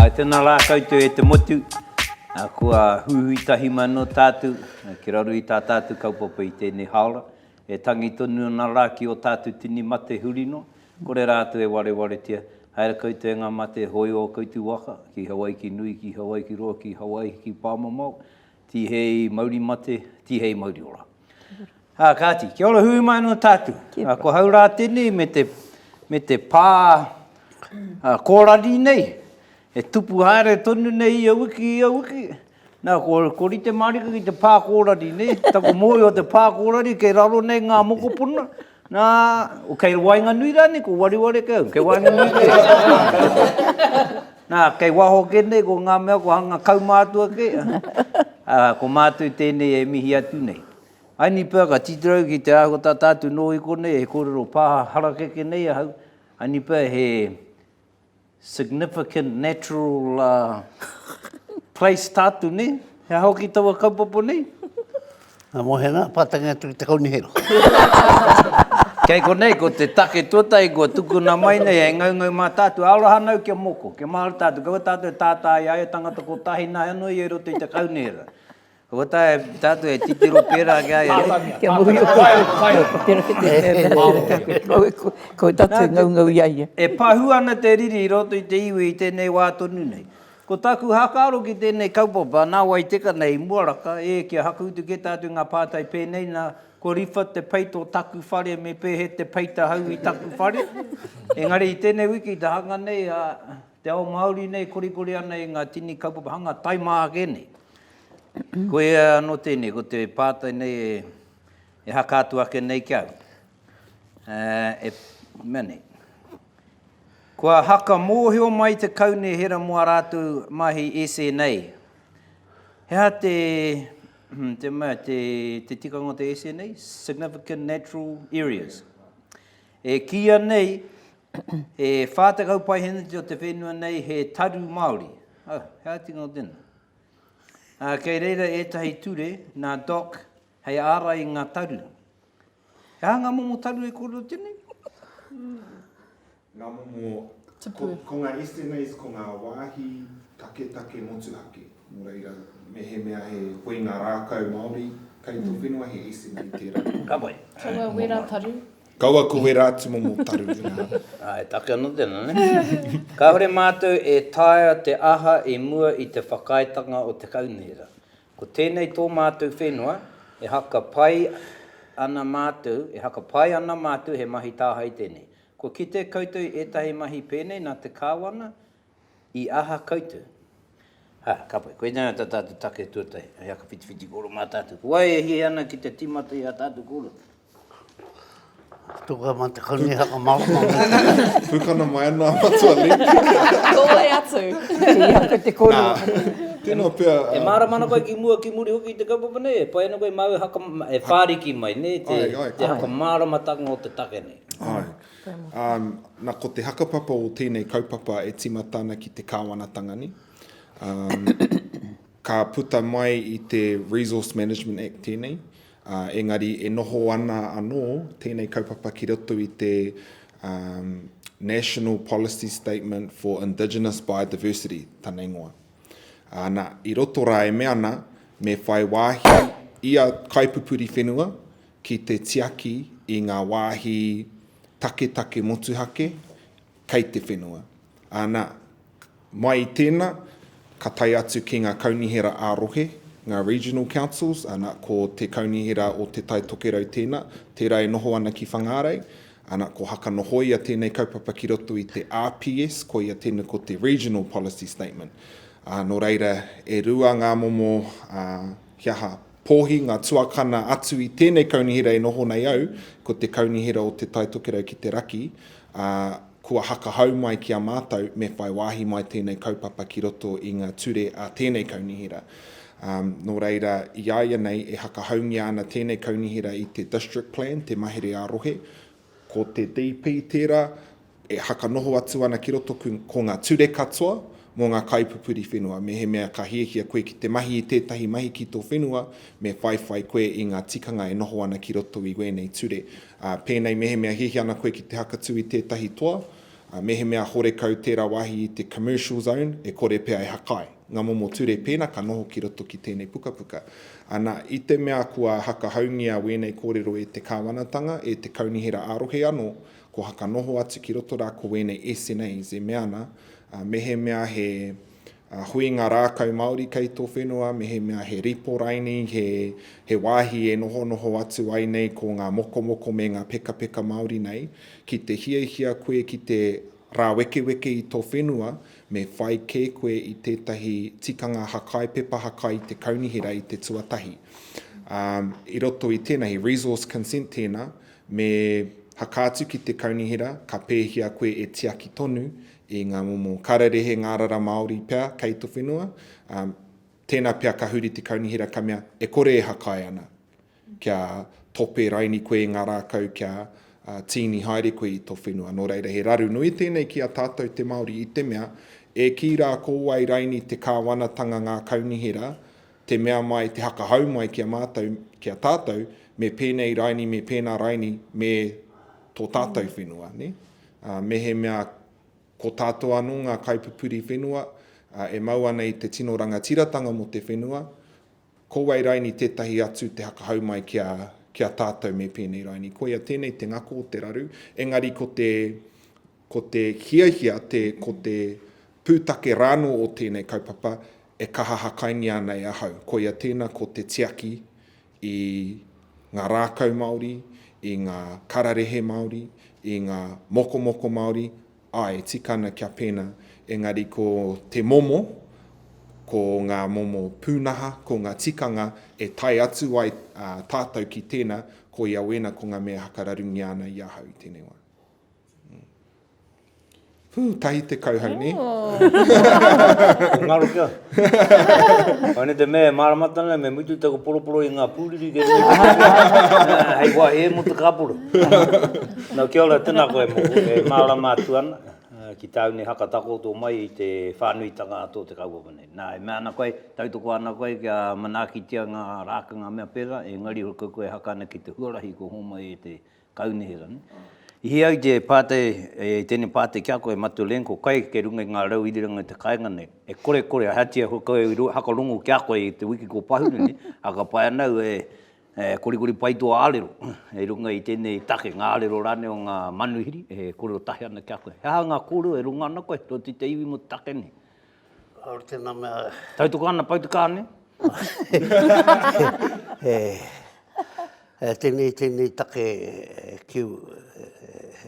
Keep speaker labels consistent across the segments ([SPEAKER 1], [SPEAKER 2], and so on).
[SPEAKER 1] Āe, tēnā rā koutou e te motu, kua huhui tahi mai anō tātou ki raro i tā tātou kaupapa i tēnei hāora, e tangi tonu ana rā ki ō tātou tini mate huri noa, kore rātou e warewaretia, haere koutou e ngā mate hōio o koutou waka, ki Hawaiki nui, ki Hawaiki roa, ki Hawaiki pāmamao, Tihei mauri mate, tihei mauri ora. Ha, kāti, kia ora hui mai no tātu. Ha, ko hau rā tēnei me te, me te pā ha, kōrari nei, e tupu haere tonu nei ia wiki, ia wiki. Nā, ko, ko rite mārika ki te pā kōrari nei, taku mōhio te pā kōrari kei raro nei ngā mokopuna, Nā, o kei waenganui rānei, ko wareware kau, kei waenganui kē. Nā, kei waho kē nei, ko ngā mea kua hanga kaumātua kē. Ā, ko mātou tēnei e mihi atu nei. Ai ni pea ka titirau ki te āhua tata atu nō i konei he kōrero pā harakeke nei ahau, ai ni pea he Significant natural place tātu nei, he aha hoki taua kaupapa nei? Ngā
[SPEAKER 2] Mohenga, pātangi atu ki te Kaunihera.
[SPEAKER 1] Kei konei, ko te take tuatahi kua tukuna mai nei, hei ngaungau mā tātu, aroha anau kia moko, kia mahara tātu, kaua tātu e tātā i a ia tangata kotahi, nāi anō ia i roto i te Kaunihera. Kua tae tātou e titiro pērā ki a ia.
[SPEAKER 3] Pātania, pātania. E pahū ana
[SPEAKER 1] te riri i roto i te iwi i tēnei wā tonu nei. Ko tāku hākaro ki tēnei kaupapa nā wai teka nei i Muaraka, ē, kia hakuutu kē tātou i ngā pātai pēnei, nā, ko Riwha te peita o taku whare me Pehe te peita hau i taku whare. Engari i tēnei wiki i te hanga nei, Te ao Māori nei korekore ana i ngā tini kaupapa hanga tae mā ake nei. Koia anō tēnei, ko te pātai nei e, e haka atu ake nei ki au. E, mea nei. Kua haka mōhio mai te kaunihera mō a rātou mahi SNA. He aha te, hmm, te, mea, te, te tikanga o te SNA? Significant Natural Areas. E kīia nei he 40 paeheneti o te whenua nei he taru Māori. Oh, he ātinga o tēnā. Uh, kei reira ētahi ture nā Doc hei ārai i ngā taru. He aha ngā momo taru e kōrero tēnei?
[SPEAKER 4] ngā momo, ko, ko ngā SMAs, ko ngā wāhi taketake motuhake. Nō reira, mehemea he koe ngā rākau Māori kei tō whenua, he SMA tērā. Ka pai. Kaua
[SPEAKER 1] wera taru.
[SPEAKER 3] Kaua ko wera
[SPEAKER 4] atu momo taru i ngā. Ā, e take
[SPEAKER 1] ana tēnā, nē? Kāore mātou e taea te aha i mua i te whakaaetanga o te Kaunihera. Ko tēnei tō mātou whenua, e haka pai ana mātou, e haka pai ana mātou he mahi tāhae tēnei. Kua kite koutou i ētahi mahi pēnei nā te Kāwana, I aha koutou? Ha, ka pai. Koinei ata tātou take tuatahi. Hei aka whitiwhiti koro mā tātou. Ko wai e hia ana ki te tīmata i a tātou koro? Tuku
[SPEAKER 2] ama te kani haka marama. Pukana
[SPEAKER 4] mai ana a Matua Link. Nōhea
[SPEAKER 3] atu. Hei aka te koro. Tēnā pea.
[SPEAKER 4] E mārama ana koe ki
[SPEAKER 1] mua ki muri hoki i te kaupapa nei? E pai ana koe i māu haka, e whāriki mai, nē, te haka māramatanga o te take nei? Āe. Ā,
[SPEAKER 4] na ko te hakapapa o tēnei kaupapa e timata ana ki te Kāwanatanga nei. Ā, ka puta mai i te Resource Management Act tēnei, ā, engari e noho ana anō tēnei kaupapa ki roto i te, ā, National Policy Statement for Indigenous Biodiversity, tana ingoa. Ā, na, i roto rā e mea ana me whai wāhi ia kaipupuri whenua ki te tiaki i ngā wāhi taketake motuhake kei te whenua. Anā, mai i tēnā, ka tae atu ki ngā kaunihera ā-rohe, ngā regional councils, anā, ko te kaunihera o Te Tai Tokerau tēnā, tērā e noho ana ki Whangārei, anā, ko Hakanohoia tēnei kaupapa ki roto i te RPS, koia tēnei ko te Regional Policy Statement. Nō reira, e rua ngā momo, he aha, pōhi, ngā tuakana atu i tēnei kaunihera e noho nei au, ko te kaunihera o Te Tai Tokerau ki te Raki, ā, kua hakahau mai ki a mātou me whai wāhi mai tēnei kaupapa ki roto i ngā ture a tēnei kaunihera. Ā, nō reira, i a ia nei e hakahaungia ana tēnei kaunihera i te District Plan, te mahere ā-rohe, Ko te DP tērā e hakanoho atu ana ki roto ko ngā ture katoa mō ngā kaipupuri whenua. Mehemea ka hiahia koe ki te mahi i tētahi mahi ki tō whenua, me whaiwhai koe i ngā tikanga e noho ana ki roto i wēnei ture. Pēnei mehemea hiahia ana koe ki te hakatū i tētahi toa, mehemea horekau tērā wāhi i te Commercial Zone, e kore pea e hakae. Ngā momo ture pēnā ka noho ki roto ki tēnei pukapuka. Ana, i te mea kua hakahaungia wēnei kōrero e te Kāwanatanga, e te Kaunihera ā-rohe anō, kua whakanoho atu ki roto rā ko wēnei SNAs e mea ana, mehemea he huinga rākau Māori kei tō whenua, mehemea he rīporaini, he, he wāhi e nohonoho atu ai nei ko ngā mokomoko me ngā pekapeka Māori nei, ki te hiahia koe ki te Rāwekeweke i tō whenua, me whai kē koe i tētahi tikanga hakai, pepa hakai i te kaunihera i te tuatahi. Ā, i roto i tēnā, he resource consent tēnā, me haka atu ki te kaunihera, ka pēhia koe e tiaki tonu i ngā momo kararehe ngārara Māori pea kei tō whenua, ā, tēnā pea ka huri te kaunihera ka mea e kore e hakai ana. Kia tope raini koe i ngā rākau kia tīni haere koe i tō whenua. Nō reira he raru nui tēnei ki a tātou te Māori i te mea, e kī rā ko wai raini te kāwanatanga ngā kaunihera, te mea mai, te hakahau mai ki a mātou, ki a tātou, me pēnei raini, me pēnā raini, me tō tātou whenua. Nē? Mehemea ko tātou anō ngā kaipupuri whenua e mau ana i te tino rangatiratanga mō te whenua, Ko wai raini tetahi atu te hakahau mai ki a, ki a tatou me penei raini. Koia tenei te ngako o te raru, engari ko te, ko te hiahia te, ko te putake rano o tenei kaupapa e kaha hakaingia ana e ahau. Koia tena ko te tiaki i nga rakau Maori, i nga kararehe Maori, i nga mokomoko Maori, Ae, tika ana kia pena, engari ko te momo, ko nga momo punaha, ko nga tikanga e tae atu ai tatou ki tena, koia wena ko nga mea hakararungia ana i ahau i tenei wa. Huu, tahi te kauhau ne? Ko ngaro
[SPEAKER 1] kia. Koinei te mea e māramatanga nei, me mutu taku poroporo i ngā pūriri kei runga i te kāpura, hei wāhi e mō te kāpura. Nō, kia ora, tēnā koe mōku, e mārama atu ana ki tāu nei haka takoto mai i te whānuitanga a tō te kaupapa nei. Nā, e mea ana koe, tautoko ana koe kia manaakitia ngā rākanga mea pērā, engari hoki koe e haka ana ki te huarahi kua hōmai e te Kau nei ra ne. I hia ai te patai e tenei patai kia koe Matu Len ko kai ke runga i nga rau iriranga i te kainga nei e kore kore ahatia ho koe i hakarongo kia koe i te wiki ko Pahuru ne a ka pai ana au e korikori pai tua arero i runga i tenei take nga arero rane o nga manuhiri e kore o tahi ana kia koe he aha nga korero e runga ana koe to ti te iwi mo te take nei Kāore tēnā
[SPEAKER 2] mea. Tautoko ana pau te
[SPEAKER 1] kāne. e,
[SPEAKER 2] e, tēnei, tēnei take e, kiu, e,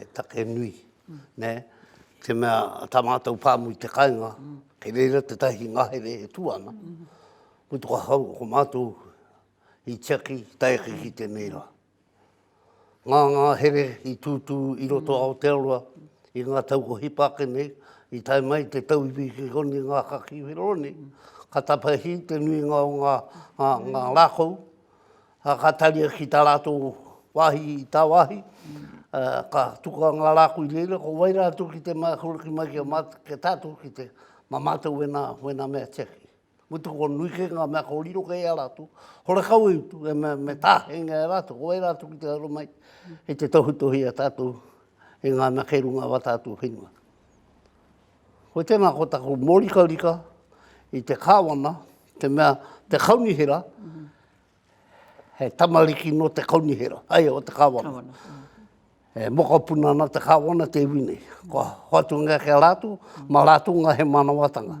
[SPEAKER 2] e, take nui, mm. ne? Te mea, tā mātou pāmu i te kainga, mm. kei reira te tahi ngahere e tu ana, mm. ko hau, ko mātou i tiaki, taiaki ki tēnei rā. Ngā ngāhere i tūtū i roto a Aotearoa i ngā tau ko hipa ake nei, i tae mai te tau i Wikikoni ngā kakī whero nei, ka tapahi te nuinga o ngā ngā rākau, a ka taria ki tā rātou wāhi i tāwāhi, ka tukua ngā rākau i reira, ko wai rātou ki te mākuru ki mai ki a mātou, kia tātou ki te, mā mātou wēnā, wēnā mea tiaki. Ko te kua nui kē ngā mea kōrero kē i a rātou, horekau i utu, me, me tāhengia e rātou, ko wai rātou ki te aro mai i te tohutohu i a tātou i ngā mea kei runga wā tātou whenua. Ko tēnā ko taku mōrikarika i te kāwana, te mea, te kaunihera, mm -hmm He tamariki nō te kaunihera, ae, o te kāwana. Kāwana. E mokopuna ana te kāwana te iwi nei. Kua hoatungia ki a rātou, mā rātou ngā he mānawatanga.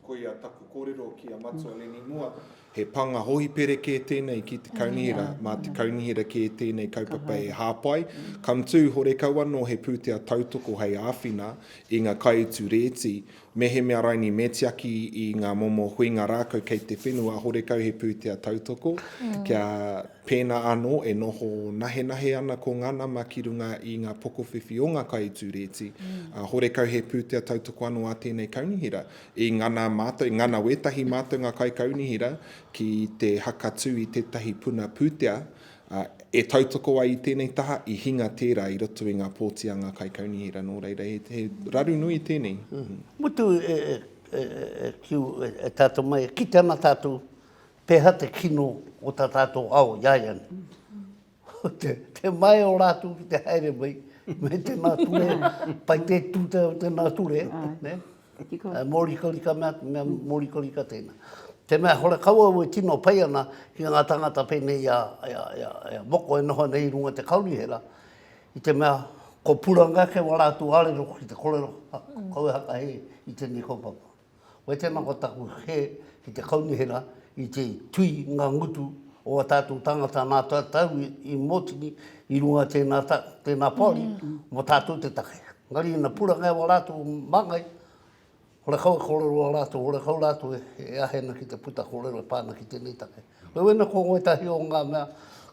[SPEAKER 2] Koia
[SPEAKER 4] taku kōrero ki a Matua Lenimua, he pānga hohipere kē tēnei ki te kaunihera, mā te kaunihera kē tēnei kaupapa e hāpai. Come too, horekau anō he pūtea tautoko hei āwhina i ngā kaiutu rēti Mehemea raini me tiaki i ngā momo huinga rākau kei te whenua, horekau he pūtea tautoko, kia pēnā anō e noho nahenahe ana ko ngā nama ki runga i ngā pokowhiwhi o ngā kai i tū rēti, ā, horekau he pūtea tautoko anō a tēnei kaunihera. I ngana mātou, i ngana wētahi mātou ngā kaikaunihera ki te hakatū i tētahi puna pūtea, E tautoko ai i tēnei taha, i hinga tērā i roto i ngā pōti a ngā kaikaunihera, nō reira, he, he raru nui tēnei. Mutu e, e,
[SPEAKER 2] e, e, kiu, e, e tātou mai, e kite ana tātou, pēhā te kino o tā tātou ao i a ia nei. Te, te maea o rātou ki te haere mai, me tēnā ture, pai te tūtau tēnā ture, ne? E tika. E mōrikarika mea, mea mōrikarika tēnā. Te mea hore kau au e tino pai ana ki ngā tāngata pēnei i a, i a, i a, i a Moko e noho ana i runga te kaunihera, i te mea ko puranga ake wā rātou arero ki te korero kau e hakahe i tēnei kaupapa. Koe tēnā ko taku he ki te kaunihera I te tui ngā ngutu o a tātou tāngata nā tātou i mōtini i runga i tēnā, tēnā poari mō tātou te take. Engari ina puranga e wā rātou māngai, horekau e kōrero a rātou, horekau rātou e ahena ki te puta kōrero e pā ana ki tēnei take. Wena ko wētahi o ngā mea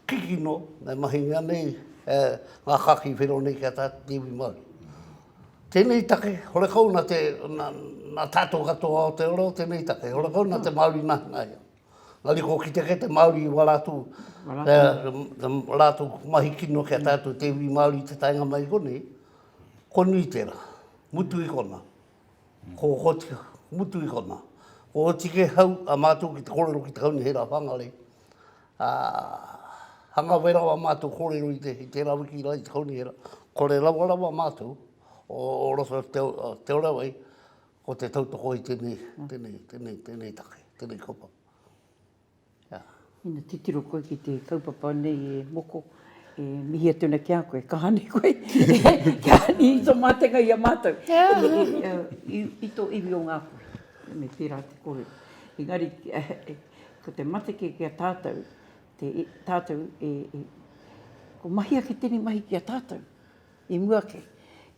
[SPEAKER 2] kikino e mahingia nei e ngā kākī whero nei ki a tātou te iwi Māori. Tēnei take, horekau nā te, nā, nā tātou katoa o te ora o tēnei take, horekau nā te Māori nahanaia. Nā reira kua kite kē te Māori i wā rātou, te rātou mahi kino ki a tātou te iwi Māori i te taenga mai i konei, kua nui tērā, mutu i konā. Ko, ko tika, mutu i konā. Kua oti kē hau a mātou ki te kōrero ki te kaunihera whāngarei, Ā, hangawe rawa mātou kōrero i te, i te rawiki rā, i te kaunihera, kore rawa rawa mātou o, o roto te, te ora wai, ko te tautoko i tēnei, tēnei, tēnei, tēnei take, tēnei kaupapa. Ā.
[SPEAKER 3] Ina titiro koe ki te kaupapa nei e Moko, e mihi atu ana ki a koe, ka hānui koe, kia hānui i tō mātenga i a mātou, i, i, i tō iwi o Ngāpuhi. Me pērā te kōrero. Engari, Ko te mateke ki a tātou, te, tātou e, e, ko mahi ake tēnei mahi ki a tātou, i mua ake.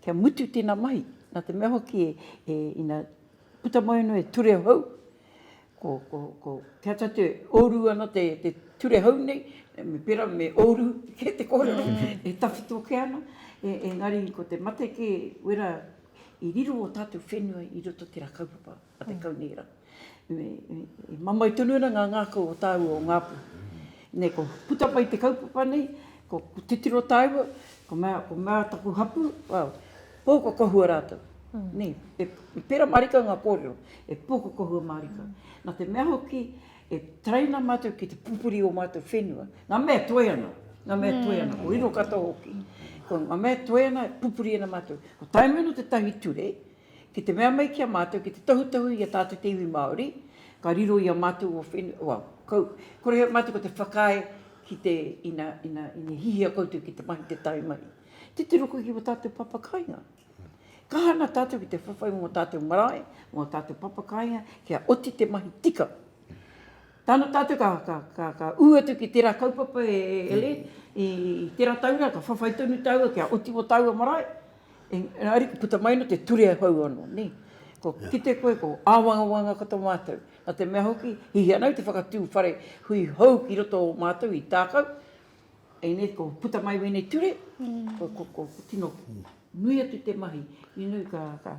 [SPEAKER 3] Kia mutu tēnā mahi, nā te mea hoki e, e ina puta mai anō e ture hou, ko, ko, ko kia ta te oru ana te, te ture hou nei, me pera me oru ke te kōrero, mm. e tawhito ke ana, e, e ngari ko te mate ke wera i riro o tātou whenua i roto te rā kaupapa. a te kaunihera. I mamai tonu ana ngā ngākau o tāua o Ngāpū. Nei ko puta mai te kaupapa nei, ko titiro tāua, ko mea, ko mea taku hapū, pūkokohua rātou. Nei, e pērā mārika ngā kōrero, e pūkokohua mārika. Nā te mea hoki, e taraina mātou ki te pupuri o mātou whenua. Ngā mea toe ana, ngā mea toe ana, ko riro katoa hoki. Ko ngā mea toe ana, pupuri ana mātou. Ko Taimano te tahi ture, Ki te mea mai ki a mātou ki te tohutohu i a tātou te iwi Māori, ka riro i a mātou o whenua, well, ko, kore he mātou ko te whakaae ki te, ina, ina, ina hihia koutou ki te mahi te tae mai. Titiro koe ki wā tātou papa kāinga. Kaha ana tātou ki te whawhai mō tātou marae, mō tātou papa kāinga, kia oti te mahi tika. Tāna tātou ka, ka, ka, ka ū atu ki tērā kaupapa e, e Helen, i, i tērā taura ka whawhai tonu tāua kia oti mō tāua marae, Engari ariki puta mai no te ture hou ano ne. Ko kite koe ko awangawanga ko to matou. Na te mea hoki hihi ana au te whakatu whare hui hou ki roto o matou i takau ene ko puta mai wenei ture ko tino nui atu te mahi inu ka ka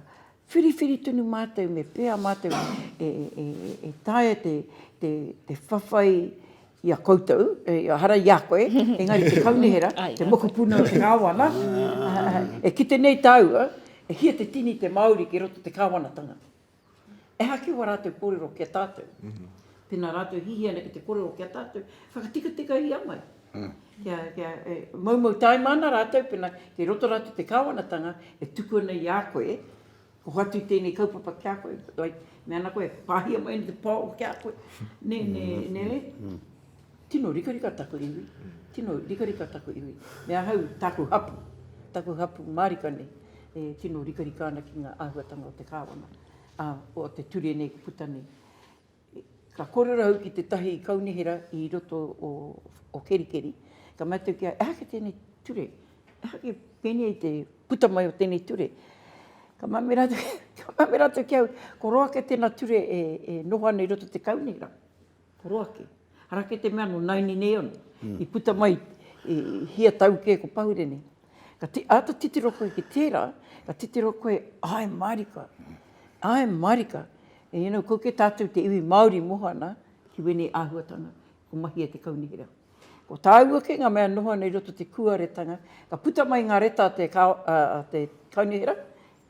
[SPEAKER 3] Whiriwhiri tonu mātou me pēa mātou e taea te whawhai i a koutou, ehara i a koe, engari te kaunihera, te mokopuna o te Kāwana, e kite nei tāua, e hia te tini te Māori ki roto te Kāwanatanga. Ehake wā rātou kōrero ki a tātou. Pēnā rātou hihia ana ki te kōrero ki a tātou, whakatikatikahia mai. Kia, kia, e, moumou taima ana rātou pena kei roto rātou te Kāwanatanga e tuku ana i a koe, ko hoatu i tēnei kaupapa ki a koe, like, me ana koe, pāhia mai ana te pao ki a koe, nē, nē, nē re? Tino rikarika taku iwi, tino rikarika taku iwi, me ahau, tāku hapu, taku hapu mārika nei, e tino rikarika ana ki ngā āhuatanga o te Kāwana, ā, o te ture nei ka puta nei. Ka korero au ki tetahi kaunihera i roto o Kerikeri, ka mea atu kia, ehake tenei ture, ehake penei te puta mai o tenei ture. Ka mea me ratou, ka mea me ratou ki au, ko roa ke tena ture e noho ana i roto te kaunihera, ko roa ke. Ara ke te mea no naini nei ono, i puta mai i hia tau ke ko Pahure nei. Ka ti, āta titiro koe ki tērā, ka titiro koe, āe mārika, āe mārika, you know, ko ke tātou te iwi Māori moho ana ki wēnei āhuatanga, ko Mahia te Kaunihera. Ko tāua kē ngā mea noho ana i roto te kūaretanga, ka puta mai ngā reta a te, a te Kaunihera,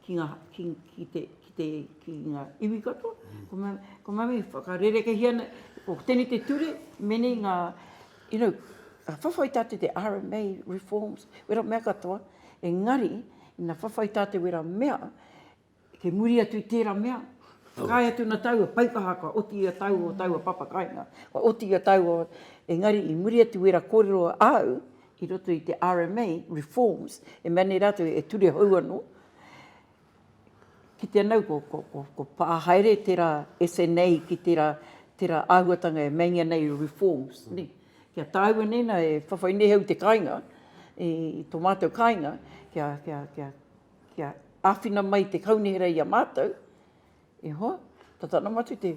[SPEAKER 3] ki nga ki ki te ki te ki nga iwi katoa ko nga ko nga iwi whakarerekehia nei ko tenei te ture menei nga you know ka whawhai ta te RMA reforms wera mea katoa engari ina whawhai ta te wera mea ke muri atu i tera mea whakaae atu na taua paikaha kua oti i a taua o taua papakainga kua oti i a taua engari i muri atu wera korero au i roto i te rma, reforms, e mea nei rātou e ture hou anō, ki te anau ko, ko, ko, ko pā haere tērā SNA ki tērā, tērā āhuatanga e meinga nei reforms, mm. ne? Kia tāua nei nā e whawhai nei au te kāinga, i, i tō mātou kāinga, kia, kia, kia, kia āwhina mai te kaunihera i a mātou, E hoa, tata ana mātou te,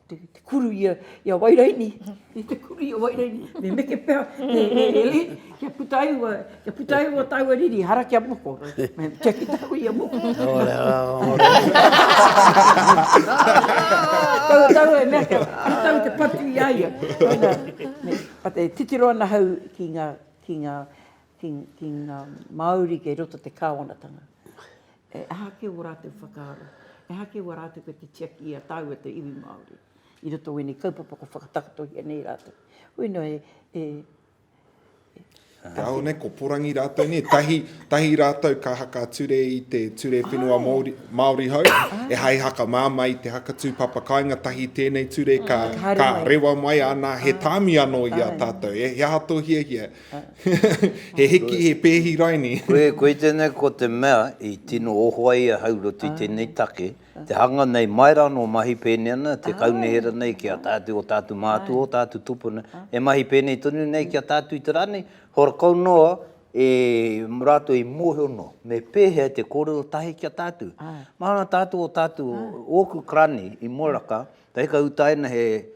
[SPEAKER 3] te, te kuru i a, i a Wairaini, i te kuru i a Wairaini, me meke pea, e, e, e, e, kia puta ai ua, kia puta ai ua tāua riri, hara kia moko, kia ki tāua i a moko. Ora, ora. Tau, tau e mea kia, kia tau te patu i a ia. Pata e titiro ana hau ki ngā, ki ngā, ki, ki ngā Māori kei roto te kāwanatanga. E aha kē wō rātou whakaaro? E aha kē wā rātou kei te tiaki i a tāua te iwi Māori i roto o ēnei kaupapa kua whakatakotohia nei rātou? Hoi nō e, e, e.
[SPEAKER 4] Kāore nei, ko porangi rātou nei, tahi, tahi rātou ka haka ture i te Ture Whenua oh. Māori, Māori Hau, oh. e hai haka māmā i te haka tūpapa kāinga, tahi tēnei ture ka, ka rewa mai ana, he tāmi anō i a tātou, e, he aha tō hiahia, He hiki, he pēhi raini. Koe tēnei ko
[SPEAKER 1] te mea i tino oho ai a Haurotu i tēnei take, te hanga nei mai rā nō mahi pēnei ana te kaunihera nei ki a tātou, o tātou mātua, o tātou tupuna, e mahi pēnei tonu nei ki a tātou i te rā nei, horakau noa e rātou i mōhio noa me pēhea te kōrero tahi ki a tātou. Māna tātou o tātou, ōku karani i Moeraka, Te hika utaina he,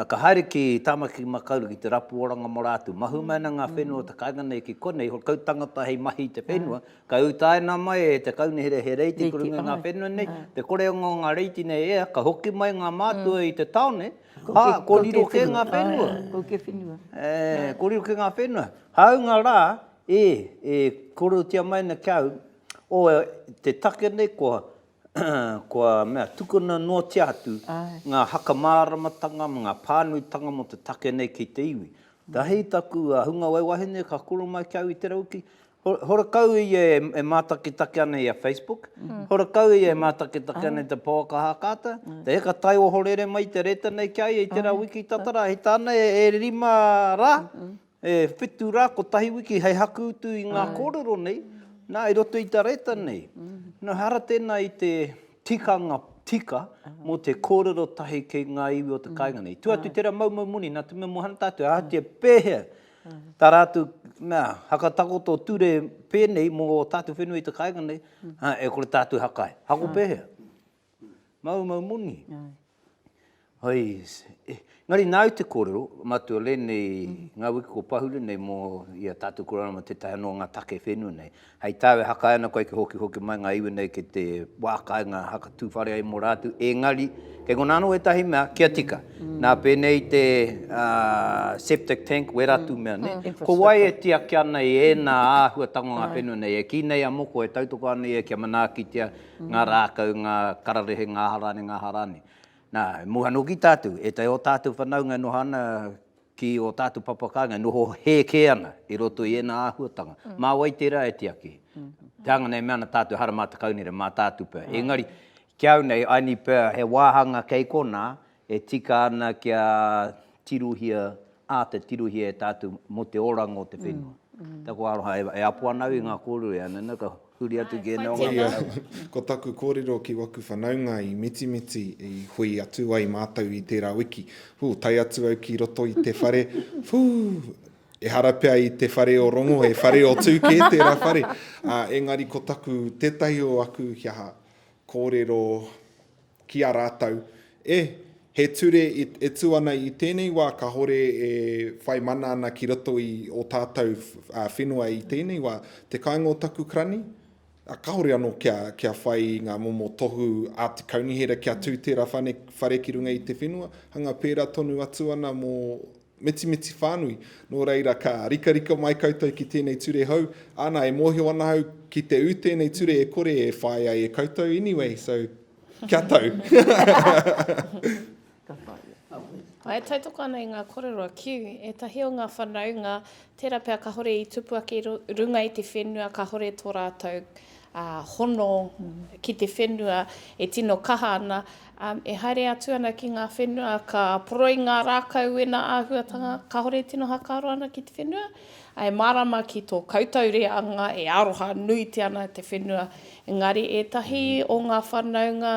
[SPEAKER 1] ka haere ki Tāmaki Makaurau ki te rapu oranga mō rātou. Mahue mai ana ngā whenua o te kāinga nei ki konei, he kau tangata hei mahi i te whenua, ka utaina mai e te kaunihera he reiti i runga i ngā whenua nei, te korenga o ngā reiti nei e ea, ka hoki mai ngā mātua i te taone, ā, kōrero kē ngā whenua. Ko kē whenua.
[SPEAKER 3] Ē, kōrero kē
[SPEAKER 1] ngā whenua. Hāunga rā, ē, e kōrerotia mai ana ki a au, o te take nei kua Kua mea, tukuna noatia atu ngā haka māramatanga me ngā pānuitanga mō te take nei ki te iwi. Ka hei taku hunga wai wahine ka kura mai ki au i te rau ki, horekau ia e mātakitaki ana i a Facebook, horekau ia e mātakitaki ana i te pouaka hākāta, te heka tai ohorere mai i te reta nei ki a ia i tērā wiki tatara, hei tāna e rima rā, E whitu rā, kotahi wiki hei haku utu i ngā kōrero nei, nā, i roto i te reta nei. Nō hara tēnā i te tikanga tika mō te kōrero tahi ki ngā iwi o te kāinga nei. Tua atu tērā maumau moni, nā te mea moana tātou, ahatia pēhea tā rātou, nā, hakatakoto ture pēnei mō ō tātou whenua i te kāinga nei, ā, e kore tātou haka ai. Hako pēhea? Maumau moni. Hoi, engari nāu te kōrero, matua rēnei ngā wiki kua pahure nei mō i a tātou koroua mō tētahi anō o ngā take whenua nei. Hei tāu e hakae ana koe kia hokihoki mai ngā iwi nei ki te wā kāinga haka tū whare ai mō rātou, engari kei konā anō ētahi mea kia tika. Nā pēnei i te septic tank wera atu mea nei, ko wai e tiaki ana i ēnā āhuatanga o ngā whenua nei? E kī nei a moko e tautoko ana ia kia manaakitia ngā rākau, ngā kararehe, ngā aha rānei, ngā aha rānei. Nā, e moe anō ki tātou, ētahi o tātou whanaunga e noho ana ki ō tātou papa kāinga, e noho hē kē ana i roto i ēnā āhuatanga. Mā wai tērā e tiaki? Te anga nei e mea ana tātou, ehara mā te kaunere, mā tātou pea. Engari, ki au nei, I need pea he wāhanga kei konā, E tika ana kia tirohia, āta tirohia e tātou mō te oranga o te whenua. Taku aroha, e apo ana au i ngā kōrero i a Nana, ka huri atu ki ēnei o ngā manawa. Ko taku
[SPEAKER 4] kōrero ki waku whanaunga i Mitimiti i hui atu ai mātou i tērā wiki. Hū, tae atu au ki roto i te whare, hū, ehara pea i te whare o rongo, he whare o tū kē tērā whare. Engari ko taku, tētahi o aku, he aha, kōrero, ki a rātou, E, he ture e tū ana i tēnei wā kāore e whai mana ana ki roto i ō tātou whenua i tēnei wā, te kāinga o taku karani, a kāore anō kia, kia whai i ngā momo tohu a te kaunihera kia tū tērā whare ki runga i te whenua, hanga pērā tonu atu ana mō Mitimiti whānui, nō reira ka rikarika mai koutou ki tēnei ture hou, ana e mōhio ana au ki te ū tēnei ture e kore e whāi ai e koutou, anyway, so kia
[SPEAKER 3] tau. Ka
[SPEAKER 5] whāia. Ā, e tautoko ana i ngā kōrero a Kew, ētahi o ngā whanaunga, tērā pea kāore i tupu ake i runga i te whenua kāore tō rātou ā, hono ki te whenua e tino kaha ana, ā, e haere atu ana ki ngā whenua ka poroi ngā rākau i ēnā āhuatanga kāore e tino hakaaro ana ki te whenua, ā, e mārama ki tō koutou reanga e aroha nuitia ana te whenua, engari ētahi o ngā whanaunga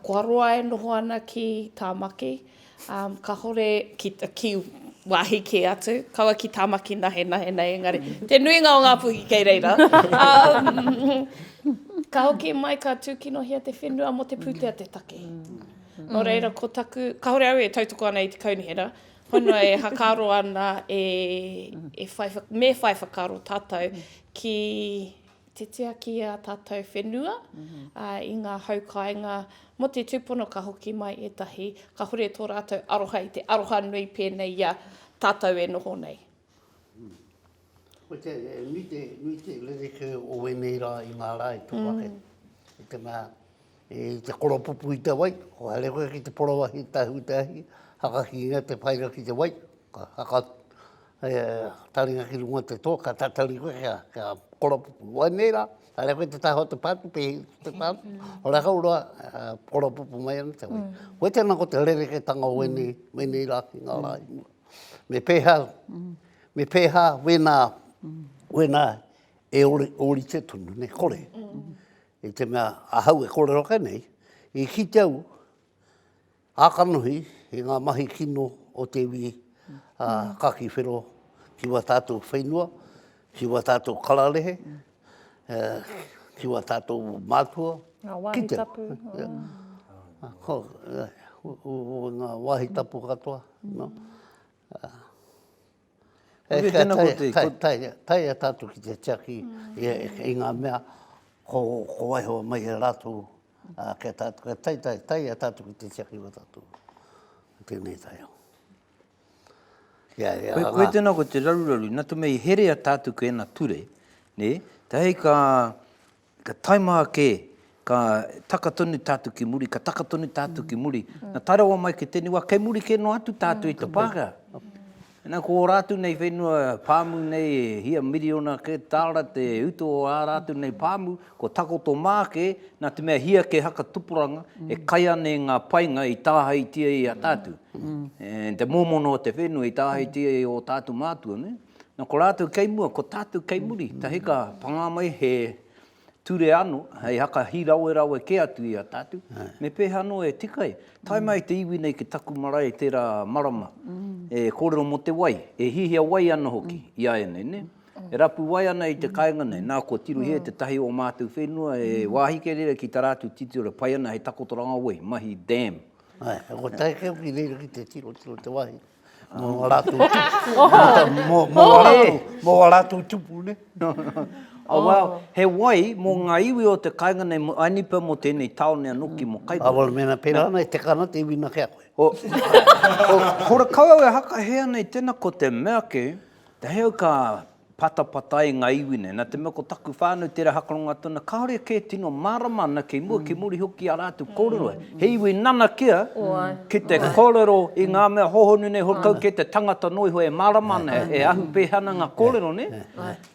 [SPEAKER 5] kua roa e noho ana ki Tāmaki, Um, kahore ki, ki wāhi kē atu, kaua ki Tāmaki nahenahe nei, engari te nuinga o Ngāpuhi kei reira. Um, ka hoki mai, ka tūkinohia te whenua mō te pūtea te take. Nō reira, ko taku, kahore au e tautoko ana i te kaunihera, honua e hakaro ana e, e whai, me whai whakaro tātou ki te tiaki i ā tātou whenua, ā, i ngā hau kāinga mō te tūpono ka hoki mai ētahi, kāhore tō rātou aroha i te aroha nui pēnei i a tātou e noho nei.
[SPEAKER 2] Koia e nui te, nui te rerekē o ēnei rā i ngā rā i tō ake, i te mea, I te koropupu i te wai, kua haere koe ki te porowahi tahu te ahi, hakakingia te whaira ki te wai, ka haka taringa ki runga te toa, ka tatari koe kia, kia koropupu. Wai nei rā, haere koe te taha o te pātu, pēhi ki te pātu, o rākau roa, koropupu mai ana te wai. Koe tēnā ko te rerekētanga o wēnei, wēnei rā ki ngā rā i mua. Me pēhā, me pēhā wēnā, wēnā e ori, orite tonu, ne kore. I te mea ahau e kōrero ake nei, i kite au a kanohi i ngā mahi kino o te iwi a Kaki Whero ki wā tātou whenua, ki wā tātou kararehe, ki wā tātou mātua. Ngā wāhi tapu. Ngā wāhi tapu katoa. Koia tēnā ko te... Kai, kai, kai, kai a tātou ki te tiaki i ngā mea ko, ko waiho mai e rātou kia tātou, kai, kai, kai, kai a tātou ki te tiaki o tātou. Tēnei tai au. Ia,
[SPEAKER 1] ia, ngā... Koia tēnā ko te raruraru, nā te mei herea tātou ki ena ture, nē, te hei ka, Ka taima ake, ka taka tonu tātou ki muri, ka taka tonu tātou ki muri. Na tae rawa mai ki tēnei wā, kei muri kē noa atu tātou i te Pākehā. Na, ko ō rātou nei whenua pāmu nei, e hia miriona kē tāra te utu o ā rātou nei pāmu, kua takoto mā kē, nā te mea hia kē haka tupuranga, e kai ana i ngā painga i tāhaitia i a tātou. Te mōmona o te whenua i tāhaitia i ō tātou mātua, nē? Na ko ratou kei mua, ko tatou kei muri, tahi ka panga mai he ture ano, hei haka hirawerawe ke atu i a tatou, me peha ano e tika ai, tae mai te iwi nei ki taku marae tera marama, e korero mo te wai, e hihia wai ana hoki i a enei, ne. E rapu wai ana i te kainga nei, na ko Tiruhie tetahi o matou whenua e wahi kei reira ki tara atu titiro e pai ana hei takotoranga wai, mahi dam. Ae, ko tae
[SPEAKER 2] keu ki reira ki te tiro, tiro te wahi. Mō wā rātou tupu. Mō wā rātou tupu, ne? Oh, wow.
[SPEAKER 1] He wai mō ngā iwi o te kainga nei, mō Ainipa, mō tēnei tāone anō ki mō Kaikoura. Āwera, mēnā pērā ana e
[SPEAKER 2] teka ana te iwi nā kē a koe.
[SPEAKER 1] Ko Rakau au e haka hē ana i tēnā, ko te mea kē, te heo ka Patapatai nga iwi nei, na te mea ko taku whanau tera hakaronga tona, kaore ke tino marama ana kei mua, kei muri hoki i a ratou korero, he iwi nanakia ki te korero i nga mea hohonu nei, hokau ke te tangata no iho e marama ana, e ahu peha ana nga korero ne.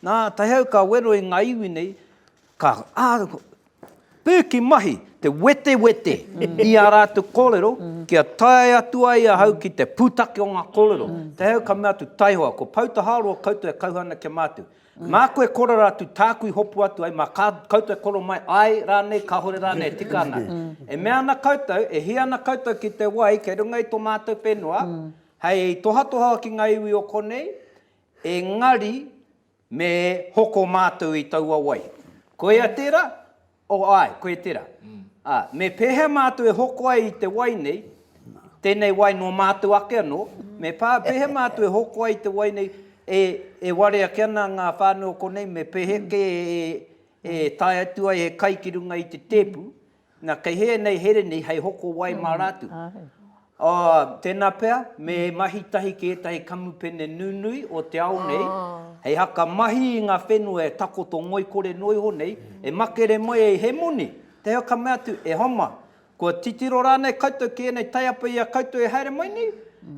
[SPEAKER 1] Na, tahi au ka wero i nga iwi nei, Ka, ah, pēki mahi te wetewete i ā rātou kōrero kia tae atu ai ahau ki te pūtake o ngā kōrero. Te hei au ka mea atu, taihoa, ko Poutaharoa koutou e kauhau ana kia mātu. Mā koe e korero atu, tāku i hopu atu ai, mā kā, koutou e korero mai, āe rānei, kāore rānei e tika ana. E mea ana koutou, e hia ana koutou ki te wai kei runga i tō mātou whenua, hei tohatoha ki ngā iwi o konei, engari Me hoko mātou i taua wai. Koia tērā? O, āe, koia tērā. Ā, me pēhea mātou e hoko ai i te wai nei, tēnei wai nō mātou ake anō, me pā, pēhea mātou e hoko ai i te wai nei, e, e ware ake ana ngā whānau o konei, me pēhea kē e, e tae atu ai he kai ki runga i te tēpu, Na, kei hē nei here nei hei hoko wai mā rātou. Āe. Tēnā pea, me mahi tahi ki ētahi kamupene nunui o te ao nei, hei haka mahi i ngā whenua e takoto ngoikore noa iho nei, e makere mai ai he moni, tēhea ka mea atu, e homa, kua titiro rānei koutou ki ēnei taiapa i a koutou e haere mai nei?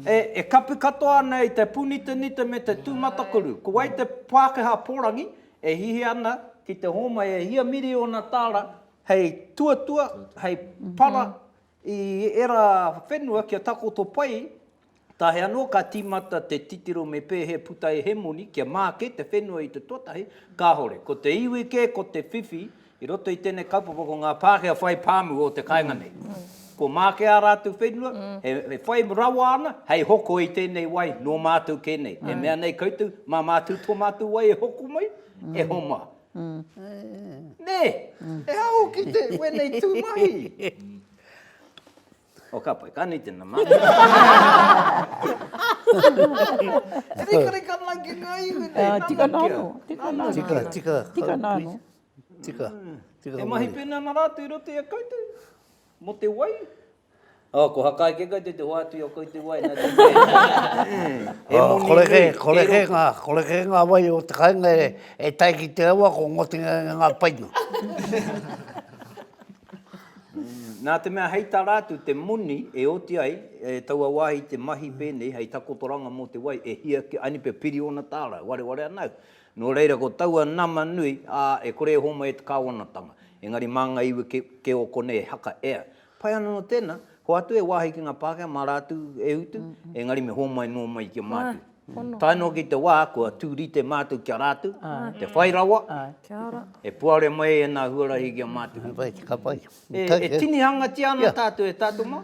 [SPEAKER 1] E, e kapi katoa ana i te pūnitanita me te tūmatakuru. Ko wai te Pākehā pōrangi e hihi ana ki te hōmai e hia miriona tāra Hei tuatua, hei para i era whenua kia takoto pai, tae anō ka tīmata te titiro me pēhea puta e Hemoni kia māke te whenua i te tuatahi, kāhore. Ko te iwi kē, ko te whiwhi, i roto i tēnei kaupapa ko ngā Pākehā whai pāmu o te kāinga nei. Kua māke ā rātou whenua, e whai rawa ana hei hoko i tēnei wai nō mātou kē nei. E mea nei koutou, mā mātou tō mātou wai e hoko mai, e homa. Nē! E aho ki te wēnei tū mahi! O ka pai, ka nui tēnā mahi. E rikarika ana ki ngā iwi nei, nana kia. Tika nā anō, tika
[SPEAKER 3] nā anō. Tika, tika. Tika nā anō. Tika,
[SPEAKER 2] tika. E mahi
[SPEAKER 1] pēnei ana rātou i roto i a koutou, mō te wai, Oh, ko Hakai ke koutou te hoatu i o koutou wai nā te mea. Oh, kore
[SPEAKER 2] kē, kore kē ngā, kore kē ngā wai o te kāinga e, e tae ki te awa ko ngotinga i ngā paina.
[SPEAKER 1] Nā te mea hei tā rātou te moni e oti ai, e taua wāhi te mahi pēnei hei takotoranga mō te wai e hia ki, aini pea piri ōna tāra, wareware ana au. Nō reira ko taua nama nui, ā, e kore e hōmai e te kāwanatanga. Engari mā ngā iwi kē o konei e haka, ea, Pai ana no tena, hoatu e wahi ki nga Pakea ma ratu e utu, engari me homai no mai ki a matu. Tae no ki te wa kua tu rite matu ki a ratu, te whai rawa, e puare mai ena huarahi ki a matu.
[SPEAKER 2] E tinihangatia
[SPEAKER 1] ana tatu e tatu ma.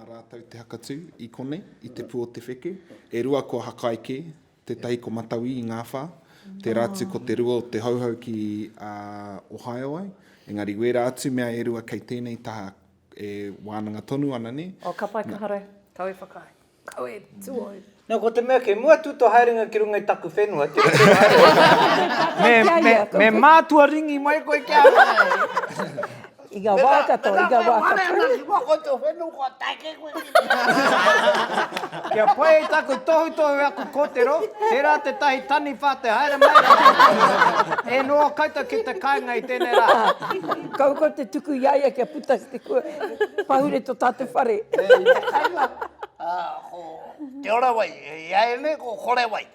[SPEAKER 4] Nā rātou te hakatū i konei, i Te Pū-o-te-wheke, e rua ko Hakaeke, tētahi ko Matauī i Ngāwhā, tērā atu ko te rua o Te Hauhau ki a Ohio ai, engari wērā atu mea e rua kei tēnei taha e wānanga tonu ana, nē? Oh, ka pai, ka haere.
[SPEAKER 5] Kau e whakaae. Kau e tuohu. Nō, ko te mea kei
[SPEAKER 1] mua atu tō haerenga ki runga i taku whenua, tira tō haerenga. Me, me, me mātua ringi mai koe kia āe. I ngā wā
[SPEAKER 3] katoa, i ngā wā katoa. Me whare ana ki
[SPEAKER 2] mua koe tō whenua, kua take koe ki runga.
[SPEAKER 1] Kia pai i taku tohutohu aku kōtero, tērā tētahi taniwha te haere mai rā. E noa koutou ki te kāinga i tēnei rā. Kaua koe te tuku
[SPEAKER 3] i a ia kia puta ki te kua. Pahure tō tātou whare. Nē, i te kainga, ko.
[SPEAKER 2] Te ora wai, e ia e ne, ko kore wai.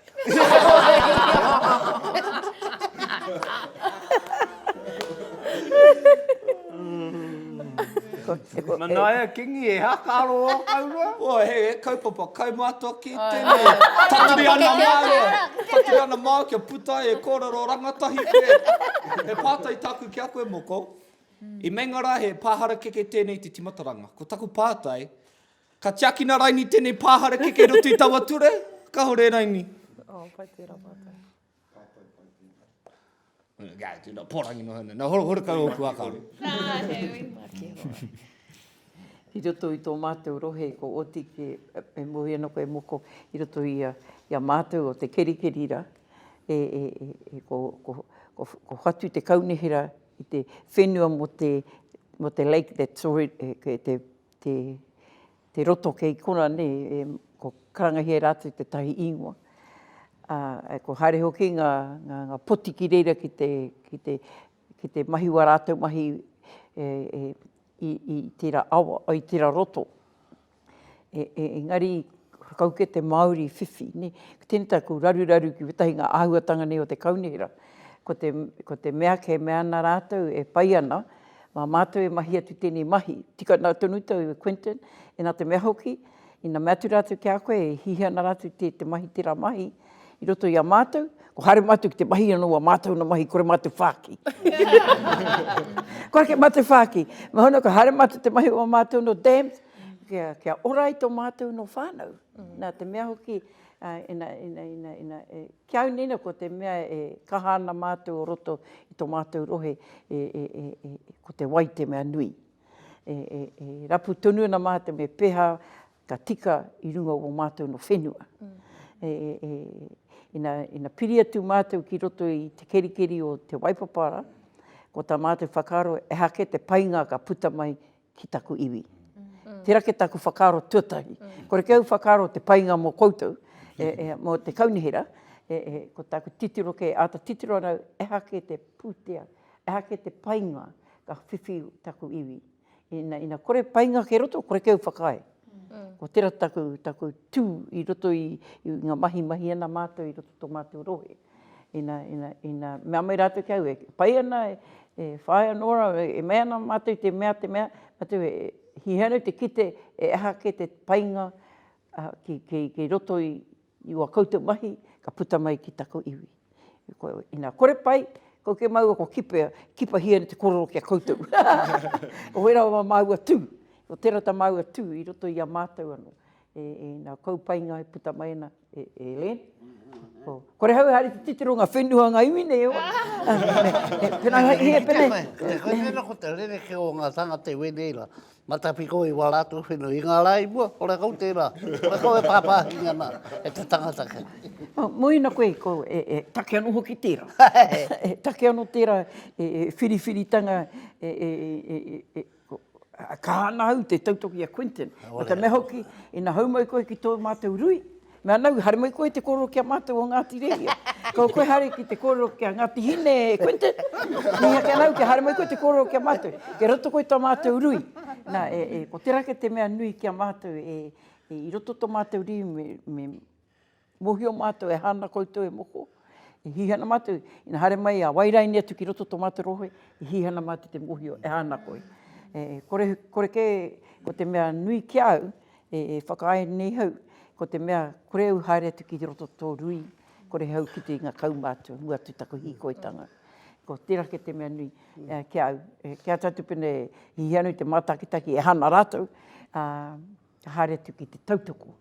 [SPEAKER 1] Manaia Kingi, e ha ka aro o kau roa? O, he kaupapa,
[SPEAKER 6] kai mātua ki tēnei. Taturi ana māua, taturi ana māua kia puta ai e kōrero rangatahi kē. He pātai tāku ki a koe moko, i meinga rā he pā harakeke tēnei te timataranga. Ko taku pātai, Ka tiakina raini tenei pahare keke i roto i taua ture? Kahore raini. Oh, pai tera
[SPEAKER 5] matou.
[SPEAKER 6] Ga, tu na porangi no hana. Na horo horo ka oku akaro. Na, he ui.
[SPEAKER 5] Make hoa.
[SPEAKER 3] I roto i to matou rohe ko Otiki, e mohi ana koe moko i roto i a i a matou o te kerikeri ra, e e e ko ko ko ko whatu te kaunihera i te whenua mo te mo te lake that's already, te te, te roto kei kona nei, e, ko karangahia e rātou tētahi īngoa. Ā, e, kua haere hoki ngā, ngā, ngā poti ki reira ki te, ki te, ki te mahi wā rātou mahi e, e, i, i tērā awa, o, i tērā roto. E, e, engari, kau kē te Māori whiwhi, nē. Ko tēnei taku raruraru ki wētahi ngā āhuatanga nei o te kaunihera, ko te, ko te mea kē mea ana rātou e pai ana, Mā mātou e mahi atu tēnei mahi. Tika nā tonu tou e Quinton, e nā te mea hoki, ina mea atu rātou ki a koe e hihi ana rātou te te mahi tērā mahi i roto i a mātou, kua haere mātou ki te mahi anō wā mātou na mahi kore mātou whāki. Kua ake mātou whāki. Me hono kua haere mātou te mahi o wā mātou nō dams, kia, kia ora ai tō mātou nō whānau. Nā te mea hoki, ina, ina, ina, ina, e, Ki au nei nō ko te mea e kaha ana mātou o roto i tō mātou rohe ko te wai te mea nui. E rapu tonu ana mātou me pēhā ka tika i runga o mātou nō whenua. Ina piri atu mātou ki roto i te kerikeri o te waipapara, ko tā mātou whakaaro, ehake te painga ka puta mai ki taku iwi. Tera ke taku whakaaro tuatahi. Kore ke au whakaaro te painga mo koutou, e, e, mo te kaunihera, e, e, ko taku titiro ke ata titiro anau, eha ke te putea, eha ke te painga ka whiwhi taku iwi. Ina, ina kore painga ke roto, kore ke au whakaae. Ko tera taku, taku tu i roto i, i nga mahi mahi ana matou i roto to matou rohe. Ina, ina, ina, mea mai rātou ki a au, e pai ana, e whāia nō rāua, e mea ana mātou i te mea, te mea, mātou e hihia ana te kite e aha kē te painga ki, ki, ki roto i, i ua koutou mahi ka puta mai ki taku iwi. Ina kore pai, kau kē māua kua kipe, kipahia ana te korero ki a koutou. Koe rawa māua tū, ko tērā tā māua tū i roto i a mātou anō. E, e, nā kou painga e puta mai ana. E Ellen, kore hau e haere te titiro nga whenua nga iwi nei e hoa. Pena hei he pene. Hei pena ko te
[SPEAKER 2] rere ke o nga tangata i wenei ra, matapiko i wa ratou whenua, i nga ra i mua, kore kau tera, kore kau e papahinga ana e te tangata ke. Moena
[SPEAKER 3] koe ko e take ano hoki tera. E take ano tera e whiriwhiritanga e. Kaha ana au te tautoki i a Quinton. Nō te mea hoki, ina hou mai koe ki tō mātou rui, me ana au, haere mai koe te kōrero ki a mātou o Ngāti Rehia. Ko koe haere ki te kōrero ki a Ngāti Hine, e Quinton. Mīhia ake ana au kia haere mai koe te kōrero ki a mātou. Kei roto koe i tō mātou rui. Nā, ko tērā ake te mea nui ki a mātou, i roto tō mātou rui me, me, Mohio matou e hana koutou e moko, i hihana matou, ina haere mai a Wairaini atu ki roto to matou rohe, i hihana matou te mohio e hana koi. E kore, kore ke ko te mea nui ki au, e whakaae nei au, ko te mea kore au haere atu ki roto to to rui, kore au ki te inga kau matou, mua atu taku hikoitanga. Ko tera ke te mea nui ki au, kia atu pene hihano i te matakitaki e hana ratou, a. ka haere atu ki te tautoko,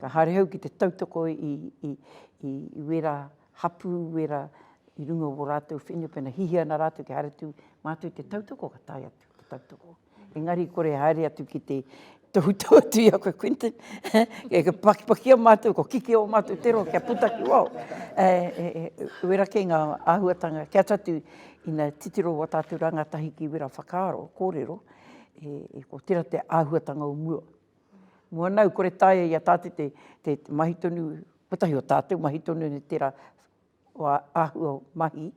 [SPEAKER 3] ka haere au ki te tautoko i, i, i, i wera hapū, wera i runga o wō rātou whenua, pēnā hihia ana rātou kia haere atu mātou i te tautoko, ka tae atu ki te tautoko. Engari i kore e haere atu ki te tohutohu atu i a koe Quinton, e pakipakia mātou, kua kikī ō mātou te roa kia puta ki waho. E, e, e, wera kē ngā āhuatanga, kē atu atu ina titiro wā tātou rāngatahi ki wera whakaaro, kōrero, e ko tera te ahuatanga o mua. Mua nau kore taia ia tate te te mahi tonu kotahi o tatou mahi tonu ni tera wa ahua o mahi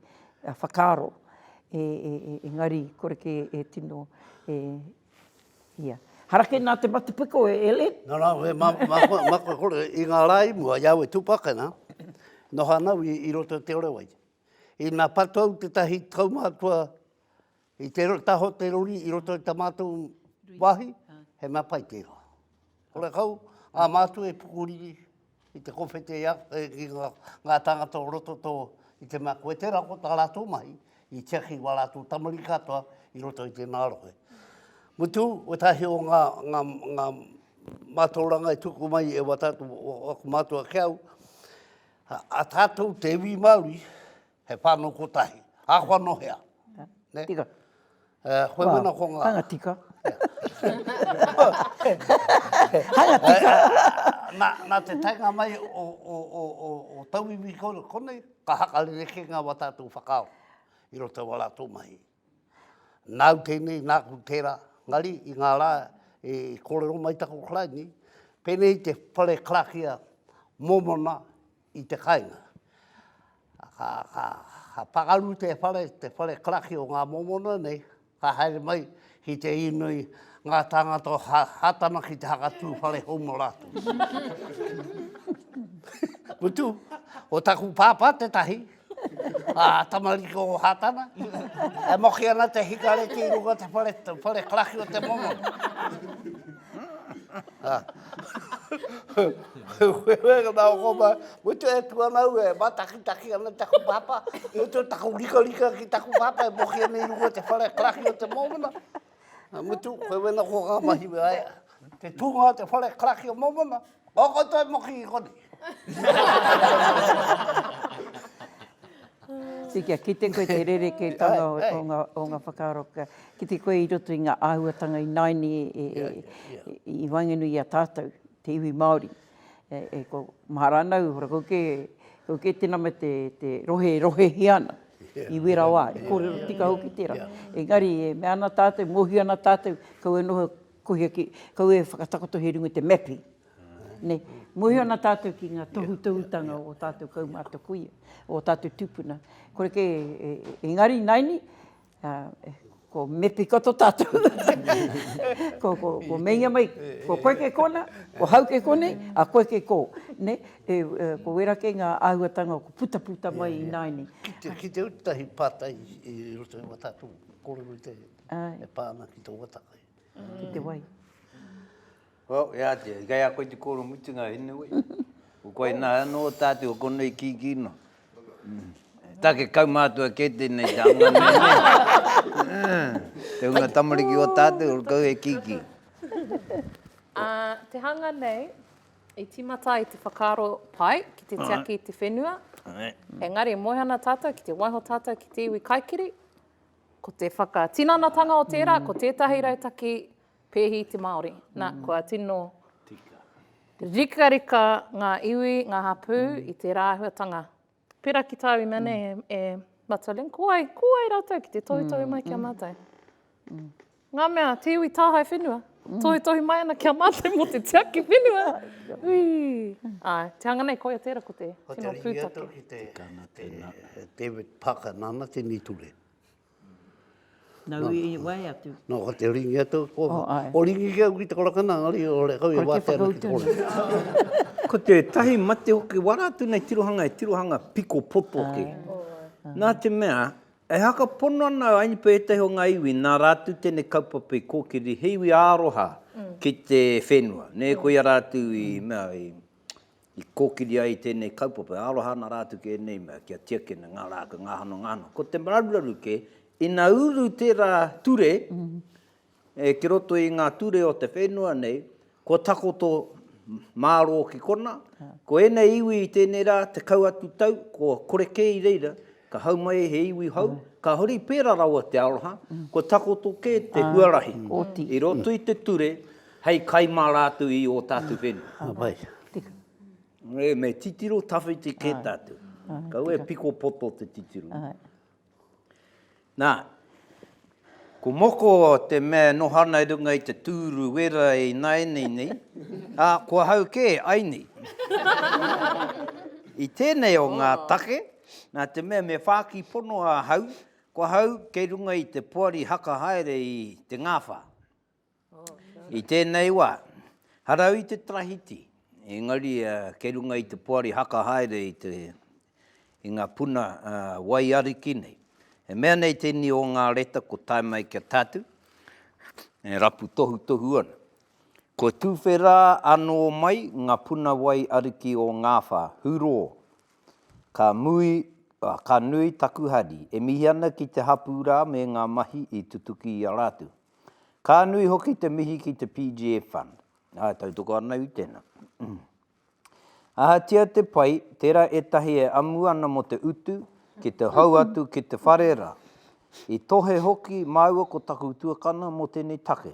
[SPEAKER 3] a whakaro e e e engari kore ke e tino e ia. Hara ke na te matapiko e Ellen. No no we ma ma
[SPEAKER 2] ma ko ko i nga ra i mua ia we tupakana no ha nau i roto te orowai. I na patou te tahi tau matua I te taho te rori i roto i ta matou wahi, he mea pai tera. Ola kau, a matou e pukuriri i te kowhete ia, i nga tangata o roto to, i te mea koe tera ko ta ratou mahi, i tiaki wa ratou tamariki katoa i roto i tena rohe. Mutu, wetahi o nga, nga, nga matauranga e tuku mai e wa tatou, aku matua ke au, a tatou te iwi Maori, He whānau kotahi. Āhua nō hea?
[SPEAKER 3] Tika.
[SPEAKER 2] Koe wena ko ngā? Hanga tika.
[SPEAKER 3] Hanga tika. Nā
[SPEAKER 2] te taenga mai o tauiwi konei, ka haka rerekē ngā wā tātou whakaaro i roto i wā rātou mahi. Nāu tēnei, nāku tērā, engari i ngā rā i kōrero mai taku Karaini, pēnei te whare karakia mōmona i te kainga. Ka, ka, ka pakaru te whare, te whare karaki o ngā momona nei, ka haere mai ki te inoi ngā tāngata o ha, Hātana ki te hakatū whare hou mō rātou. Mutu, ko taku pāpā tētahi, Ah, tamariki o Hatana. E moki ana te hikare ki runga te whare, te whare karaki o te momo. Ah. Whenga nā koma, mutu e tu ana ue, e matakitaki ana taku papa, mutu taku rika rika ki taku papa, e moki ana i runga te whare karaki o te momona. Nā Mutu, koe wena kua ngā mahi me aia. Te tūnga o te whare karaki o Momona, o koutou mo ki konei.
[SPEAKER 3] Tī kia kite koe te rerekētanga o ngā whakaaro, kia kite koe i roto i ngā āhuatanga i naine i waenganui i a tātou, te iwi Māori. e ko Maharana uhura ko ke ko ke te nama te te rohe e rohehia ana i wera wa e korero tika hoki tera engari e mea ana tatou e mohio ana tatou kau e noho kohia ki kau e whakatakoto he runga te mapping ne mohio ana tatou ki nga tohutohutanga o tatou kaumata kuia o tatou tupuna kore ke engari naini Ā, ko Mepikoto tātou. ko, ko, ko meinga mai, ko koe kei kōna, ko hau kei kōnei, a koe kei kō. Nē, e, e, ko wera kei ngā āhuatanga o putaputa mai i nāianei. Ki te, ki te uru tahi
[SPEAKER 2] pātai i roto i wā tātou kōrero i te, e pā ana ki te waka kai. Ki te wai.
[SPEAKER 1] Well, e ātea, i kai a koe te kōrero mutunga, anyway. Ko koe nā, anō tātou o konei kīkī noa. Take kaumātua kē tēnei te anga nei, nē? Te hunga tamariki o tātou, ora kau e kīkī. Ā,
[SPEAKER 5] te hanga nei, i tīmata ai te whakaaro pai ki te tiaki i te whenua, engari e moe ana tātou ki te waiho tātou ki te iwi kaikiri, ko te whakatinanatanga o tērā, ko tētahi rautaki Pēhi te Māori. Nā, kua tino rikarika ngā iwi, ngā hapū i tērā āhuatanga. Pērā ki tāu ina nei e, e Matalin, ko wai, ko wai rātou ki te tohutohu mai ki a mātou? Ngā mea, te iwi tāhae whenua, tohutohu mai ana ki a mātou mō te tiaki whenua. Ui! Āe, te hanga nei, koia tērā ko te tino pūtake. Ko te ringi atu ki te, te
[SPEAKER 2] David Parker, nāna tēnei ture.
[SPEAKER 3] Nau i wae atu. Nā, ko te ringi atu a
[SPEAKER 2] kōwhā. Oh, āe. Ko ringi kē au ki te korakana, engari o re kau e wātea ana ki te kore. Ko te whakautu. Ko tētahi
[SPEAKER 1] mate hoki, wā rātou nei tirohanga e tirohanga piko poto hoki. Nā te mea, e haka pono ana au, ānipa ētahi o ngā iwi, nā rātou tēnei kaupapa i kōkiri, he iwi ā-aroha ki te whenua, nē, koia rātou i mea, i. I kōkiri ai i tēnei kaupapa e aroha ana rātou ki ēnei mea, kia tiakina ngā rākau, ngā hano, ngā hano. Ko te raruraru kē, ina uru tērā ture ki roto i ngā ture o te whenua nei, kua takoto mārō ki konā, ko ēnei iwi i tēnei rā, tekau atu tau, kua kore kē i reira, Ka hau mai he iwi hou, ka huri pērā rawa te aroha, kua takoto kē te huarahi i roto i te ture hei kai mā rātou i ō tātou whenua. Ē, me titiro tawhiti kē tātou. Kaua e piko poto te titiro. Nā, Ko moko te mea e noho ana i runga i te tūru wera e ināianei nei, ā, ko ahau kē, ai nei. I tēnei o ngā take, nā te mea me whāki pono ahau, ko ahau kei runga i te poari haka haere i Te Ngāwhā. I tēnei wā, harau i te tarahiti, engari kei runga i te poari haka haere i ngā puna wai ariki nei. E mea nei tēnei o ngā reta ko Tae Mai Kia Tatu, e rapu tohutohu ana. Kua tuwhera anō mai ngā puna wai ariki o Ngāwhā, Hurō, ka mui, ka nui taku hari. E mihi ana ki te hapū rā me ngā mahi i tutuki i a rātou. Ka nui hoki te mihi ki te PGF Fund. Āe, tautoko ana iwi tēnā. Ahatia te pai, tērā ētahi e amu ana mō te utu, ki te hou atu ki te whare rā. I tohe hoki māua ko taku tuakana mō tēnei take.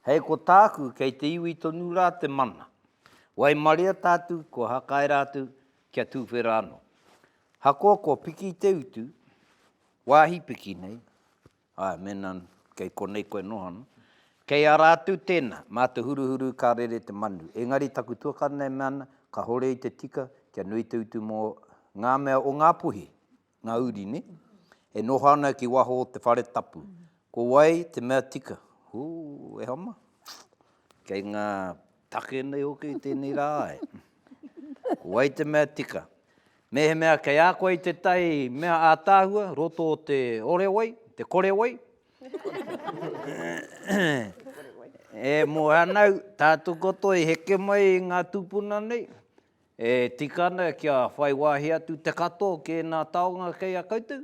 [SPEAKER 1] Hei ko tāku, kei te iwi tonu rā te mana. Waimaria tātu, kua hakae rātou kia tūwhera anō. Hakoa kua piki te utu, wāhi piki nei, Āe, mēnā kei konei koe noho ana. Kei a rātou tēnā, mā te huruhuru ka rere te manu. Engari taku tuakana e mea ana, kāore i te tika kia nui te utu mō ngā mea o Ngāpuhi, ngā uri, nē? E noho ana ki waho o te whare tapu. Ko wai te mea tika? Hū, e hama! Kei ngā Take nei hoki i tēnei rā ai. Ko wai te mea tika? Mēhemea kei a koe i tētahi mea ātaahua, roto o te ore wai, te kore wai, e Moeanau, tā Tukoto i heke mai i ngā tūpuna nei, e tika ana kia whai wāhi atu te katoa ki ēnā taonga kei a koutou?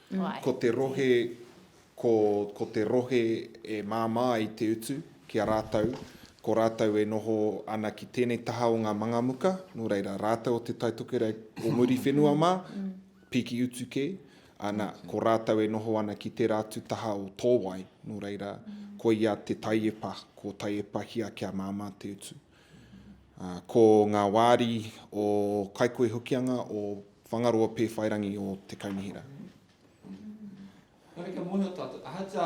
[SPEAKER 4] Ko te
[SPEAKER 5] rohe,
[SPEAKER 4] ko, ko te rohe e māmā ai te utu ki a rātou, ko rātou e noho ana ki tēnei taha o ngā mangamuka, nō reira, rātou o Te Taitokerau o Muriwhenua mā, piki utu kē, ana, ko rātou e noho ana ki tērā atu taha o Tōwai, nō reira, koia te taiepa, ko Taiepa Hia kia māmā te utu. Ko ngā wāri o Kaikohe Hokianga o Whangaroa Pēwhairangi o Te Kaunihera. Nōreira
[SPEAKER 6] kia mōhio tātou, ahatia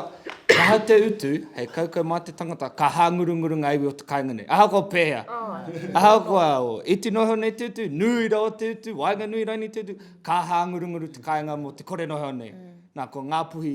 [SPEAKER 6] ahau te utu hei kaukau mā te tangata, ka hāngurunguru ngā iwi o te kāinga nei. Ahakoa pēhea, ahakoa i tino hou nei te utu, nui rawa te utu, waenganui raini te utu, ka hāngurunguru te kāinga mō te kore noho nei. Nā, ko Ngāpuhi.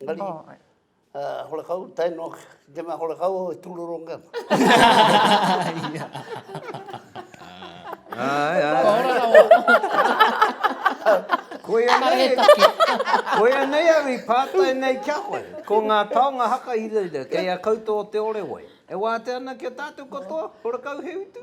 [SPEAKER 2] Engari, horekau, tae noa ki te mea horekau au e tūroronga ana.
[SPEAKER 1] Koia nei, koia nei au i pātai nei ki a koe. Ko ngā taonga haka i rau rau, kei a koutou o Te Orewai. E wātea ana ki a tātou katoa, horekau he utu?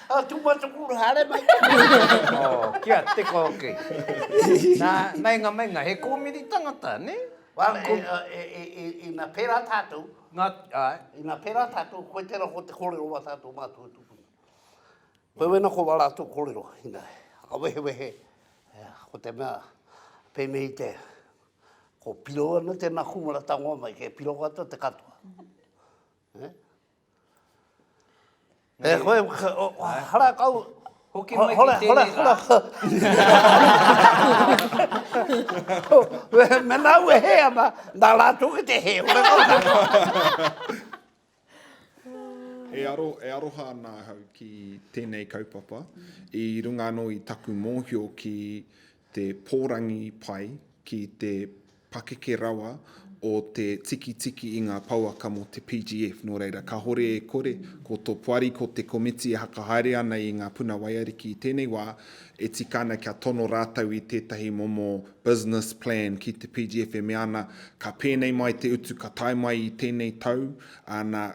[SPEAKER 2] Oh, too much of kura, haere mai te mea. Oh,
[SPEAKER 1] kia teka hoki. Nā, meinga, meinga, he kōmiri tangata, nē? Well, e,
[SPEAKER 2] e, e, e, ina pērā tātou, Ngā, ai. ina
[SPEAKER 1] pērā
[SPEAKER 2] tātou, koe tērā ko te kōrero o ā tātou mātou e tupuna. Koe wena ko wā rātou kōrero, ina, a wehewehe, e, ko te mea, pēnei te, ko piro ana tēnā kūmara tangoa mai, kei piro katoa te katoa. E koe, hara kau. Hoki
[SPEAKER 1] mai ki
[SPEAKER 2] tēnei rā. Mēnā au e hē ana, nā rātou ki te hē. Hora kau tātou.
[SPEAKER 4] E aro, e aroha ana ahau ki tēnei kaupapa, i runga anō i taku mōhio ki te pōrangi pai, ki te pakeke rawa o te tikitiki i ngā pouaka mō te PGF, nō reira, kāhore e kore, ko tō poari, ko te komiti e whakahaere ana i ngā puna waiariki i tēnei wā, e tika ana kia tono rātou i tētahi momo business plan ki te PGF e mea ana, ka pēnei mai te utu ka tae mai i tēnei tau, āna,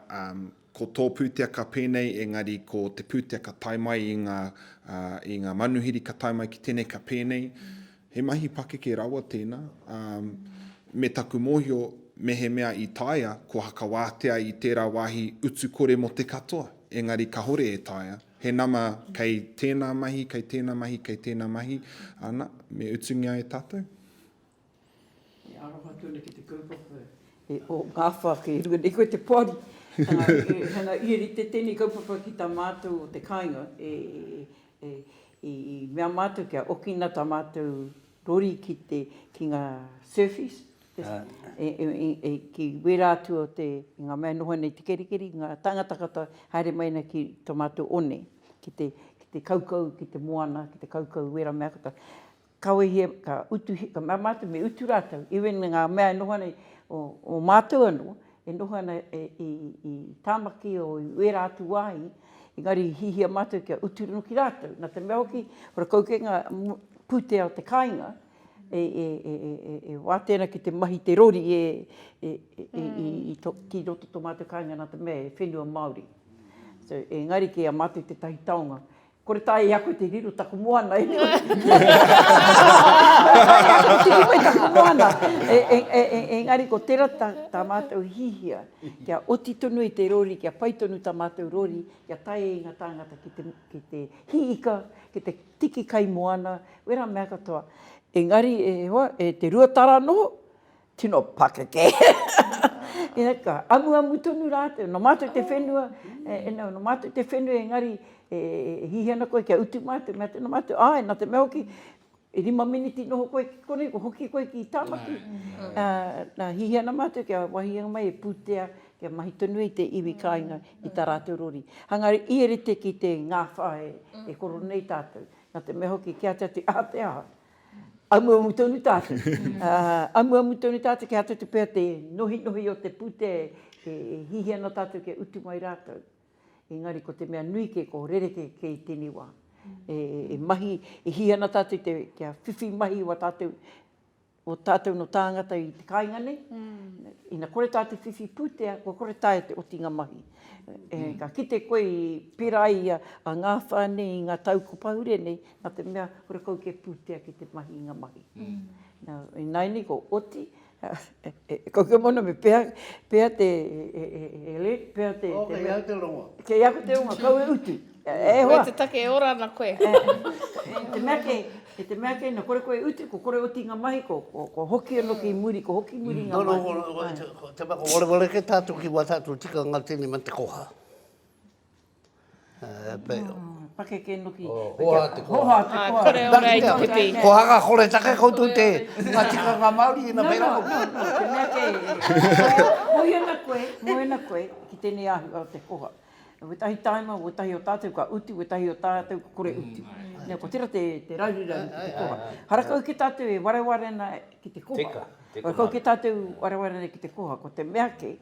[SPEAKER 4] Ko tō pūteaka pēnei engari ko te pūteaka tae mai i ngā, i ngā manuhiri ka tae mai ki tēnei ka pēnei. He mahi pakeke rawa tēnā. Ā, me taku mōhio, mehemea i taea, kua hakawātea i tērā wāhi utu kore mō te katoa, engari kahore e taea. He nama kei tēnā mahi, kei tēnā mahi, kei tēnā mahi, ana, me utungia e tātou.
[SPEAKER 3] E aroha tonu ki te kaupapa e o ngā whāke runga nei koe te poari. Tēnā i rite tēnei kaupapa ki tā mātou o te kāinga i mea mātou kia okina tā mātou rori ki te ki ngā surfies ki wērā atu o te i ngā mea noho nei te kerikeri ngā tāngata katoa haere mai ana ki tō mātou one ki te ki te kaukau ki te moana ki te kaukau wērā mea katoa. Ka wehi e, ka utu, ka mea mātou me utu rātou, even ngā mea e noho ana o mātou anō, e noho ana i Tāmaki o i wērā atu wāhi, engari i hihia mātou kia utu rongo ki rātou. Nā te mea hoki, ko rakau kē ngā pūtea o te kāinga, e wātea ana ki te mahi te rori e, ki roto tō mātou kāinga nā te mea e whenua Māori. So, engari kei a mātou tētahi taonga Kore tae i a koe te riro taku moana e nui. Kore tae i a koe te riro i taku moana. Engari ko tera ta matou hihia, kia oti tonu i te rori, kia pai tonu ta matou rori, kia tae i nga tangata ki te, ki te hi ika, ki te tiki kai moana, wera mea katoa. Engari e hoa, e te rua tara noho, Tino pakeke ia ka amuamu tonu ratou no matou te whenua e no no matou te whenua engari e hihi ana koe kia utu matou mea tena matou ae na te mea hoki i rima miniti noho koe ki konei kua hoki koe ki Tamaki a na hihi ana matou kia wahi au mai e putea kia mahi tonu ai te iwi kainga i ta ratou rori hangari i rite ki te ngafa e koro nei tatou na te mea hoki kia te atu a te aha. Amuamu tonu tātou. Amuamu tonu tātou kia āta tupea te nohinohi o te pūtea e hihi ana tātou kia utu mai rātou. Engari ko te mea nui kē, ko rerekē kē i tēnei wā. E mahi, e hihi ana tātou te, kia whiwhi mahi wā tātou, wā tātou nō tāngata i te kāinga nei. Ina kore tātou whiwhi pūtea, kua kore taea te otinga mahi. Ka kite koe i pērā ai a Ngāwhā nei i ngā tau kua pahure nei, Na te mea, kore kau ke putea ki te mahi i nga mahi. Na, inaini ko Oti, e kau ke moana me pea, pea te, he lek, pea te. Oh, kei au te rongo.
[SPEAKER 2] Kei aku te rongo, kau
[SPEAKER 3] e utu. E hoa. Koe te take
[SPEAKER 5] e ora ana koe. I te mea kei, i
[SPEAKER 3] te mea kei na kore koe e utu, ko kore Oti i nga mahi, ko, ko, ko hoki ano ki muri, ko hoki muri i nga mahi. Te mea ko wareware
[SPEAKER 2] ke tatu ki wa tatu tikanga tini me te koha.
[SPEAKER 3] Pakeke noki. Hoha te koa. Hoha
[SPEAKER 2] te koa. Kore ora i
[SPEAKER 3] te pī.
[SPEAKER 5] Ko hanga kore take
[SPEAKER 2] koutou te nga tikanga Maori i na pera. No, no, no, no, te mea kei.
[SPEAKER 3] Mohi ana koe, mohi ana koe ki tenei ahua o te hoha. Wetahi taima, wetahi o tatou ka utu, wetahi o tatou ka kore utu. No, ko tera te raruraru ki te koha. Hara kau ki tatou e wareware ana ki te koha. Teka, teka manu. Hara kau ki tatou wareware ana ki te koha, ko te mea kei,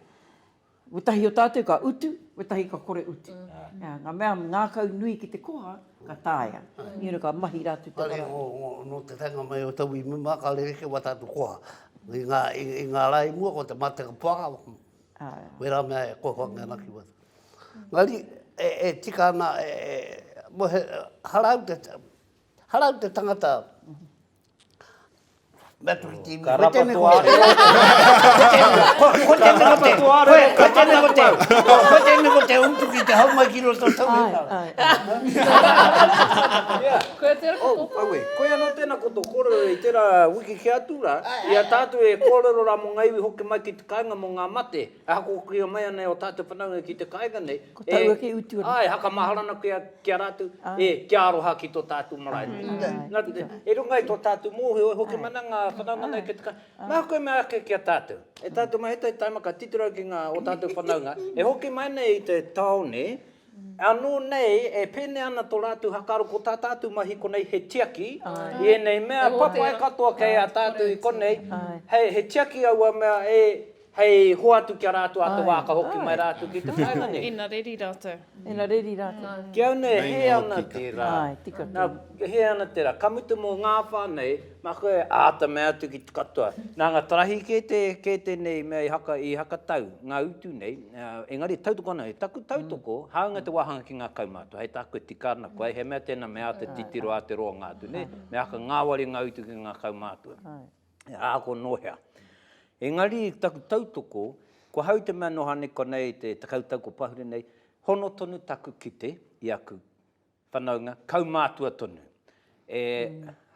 [SPEAKER 3] Wetahi o tatou ka utu, wetahi ka kore utu. Nga mea ngakau nui ki te koha, ka taea. Ni ora ka mahi ra atu te wara. Kare no te
[SPEAKER 2] taenga mai o tau imu ma ka rerekē wa tatou koha. I nga ra i mua ko te mateka poaka, wera mea e kohoa mai ana ki waho. Engari e tika ana, mo he harau te tangata, Ka rapa tō arero o te hau. Ko tēnei ko te, ko tēnei ko te, ko tēnei ko te utu ki te hau mai ki roto o tō whenua.
[SPEAKER 7] Koe tērā ko tō whā. Aue, koe anō tēnā ko
[SPEAKER 1] tō kōrero i tērā wiki kē atu rā, i a tātou e kōrero rā mō ngā iwi hoki mai ki te kāinga mō ngā mate, e hakokokia mai ana e ō tātou whanaunga ki te kāinga nei, Ko taua kei utu ana.
[SPEAKER 3] Āe, hakamahara ana koe
[SPEAKER 1] ki a rātou, e, kia aroha ki tō tātou marae. Nā te mea, e runga i tō tātou mōhio, e hoki mana ngā whanaunga nei kei te kai, mā koe mea ake ki a tātou. E tātou mā, he tai taimaka titiro au ki ngā o tātou whanaunga, e hoki mai nei i te tāone, ānō nei e pēnei ana tō rātou hakaaro ko tā tātou mahi konei he tiaki i ēnei mea papai katoa kei a tātou i konei, he tiaki aua mea e. Hei hoatu ki a rātou ā te wā ka hoki mai rātou ki te whāinga nei. Ina reri rātou.
[SPEAKER 5] Ina reri rātou.
[SPEAKER 3] Ki au nei he
[SPEAKER 1] ana te rā. Nā,
[SPEAKER 3] he ana te rā.
[SPEAKER 1] Ka mutu mō ngā whānau, mā koe e āta mea atu ki te katoa. Nā ngā tarahi kē tēnei mea i hakatau, ngā utu nei, engari tautoko ana, he taku tautoko, hāunga te wāhanga ki ngā kaumātua, hei tā koe e tika ana koe, he mea tēnā me āta titiro ā te roanga atu nei, me āta ngāwari ngā utu ki ngā kaumātua. he āko nō hea. Engari, i taku tautoko, kua hau te mea nō Haneko nei te tekau tau kua pahure nei, hono tonu taku kite i aku whanaunga, kaumātua tonu. E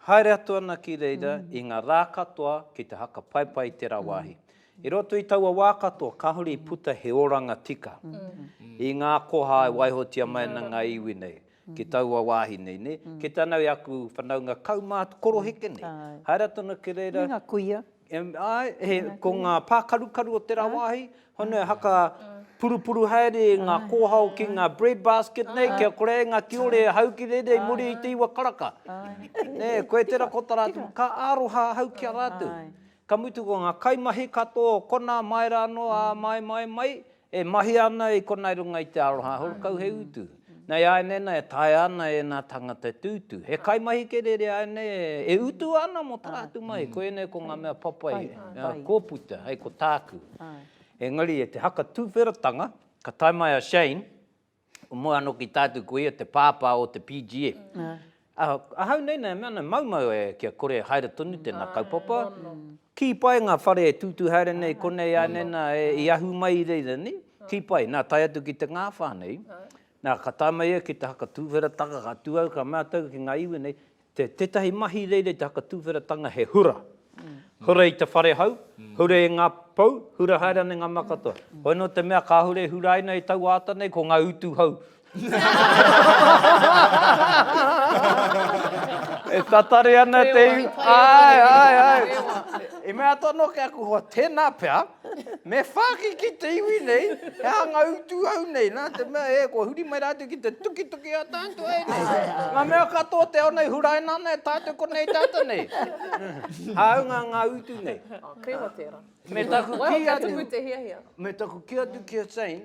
[SPEAKER 1] haere atu ana ki reira i ngā rā katoa ki te haka paipai i tērā wāhi. I roto i taua wā katoa, kāore i puta he oranga tika i ngā koha e waihotia mai ana ngā iwi nei. ki taua wāhi nei, nē, ki tāna i aku whanaunga kaumātua, koroheke nei, haere atu ana ki reira. Me ngā kuia.
[SPEAKER 3] Āe, he,
[SPEAKER 1] ko ngā pākarukaru o tērā wāhi, hone haka purupuru haere i ngā kōhao ki ngā bread basket nei, kia kore ai ngā kiore e hau ki reira i muri i te iwa karaka. Nē, koe tērā ko tā rātou, ka aroha ahau ki a rātou. Ka mutu ko ngā kaimahi katoa o konā mai rā anō ā mai, mai, mai, e mahia ana i konā i runga i te aroha horekau he utu. Nei āianei nā e taea ana e ēnā tāngata e tūtū. He kaimahi kerere āianei e utu ana mō tā rātou mahi. Koinei ko ngā mea papai kua puta, hei ko tāku. Engari e te haka tūwheratanga, ka tae mai a Shane, Ko mua anō ki tātou ko ia te pāpā o te PGF. Ahau nei nei e mea ana, maumau e kia kore e haere tonu tēnā kaupapa. Kī pai ngā whare e tūtū haere nei konei ānei nā i ahu mai i reira nei, kī pai. Nā tae atu ki te ngāwhā nei, nā ka tae mai ia ki te haka tūwherataka ka tū au ka mea taku ki ngā iwi nei, Te, tētahi mahi reira i te hakatūwheratanga he hura. Hura i te whare hau, hura e ngā pou, hura haere ana i ngā mea katoa. Hoi nō te mea kāhore e hura ai nei i taua ata nei ko ngā utu hau. e tatari ana te iwi. Ai, ai, ai. I mea atu anō ki aku hoa, tēnā pea. Me whāki ki te iwi nei, he hanga utu au nei, nā te mea e, kua huri mai rātou ki te tukituki a tātou e nei. Ngā mea katoa te ao nei, huraina ana e tātou konei tata nei. Hāunga ngā utu nei. Oh, kīwa tērā.
[SPEAKER 7] Me taku kī atu. Waiho
[SPEAKER 1] te hiahia. Me taku kī atu ki a Shane,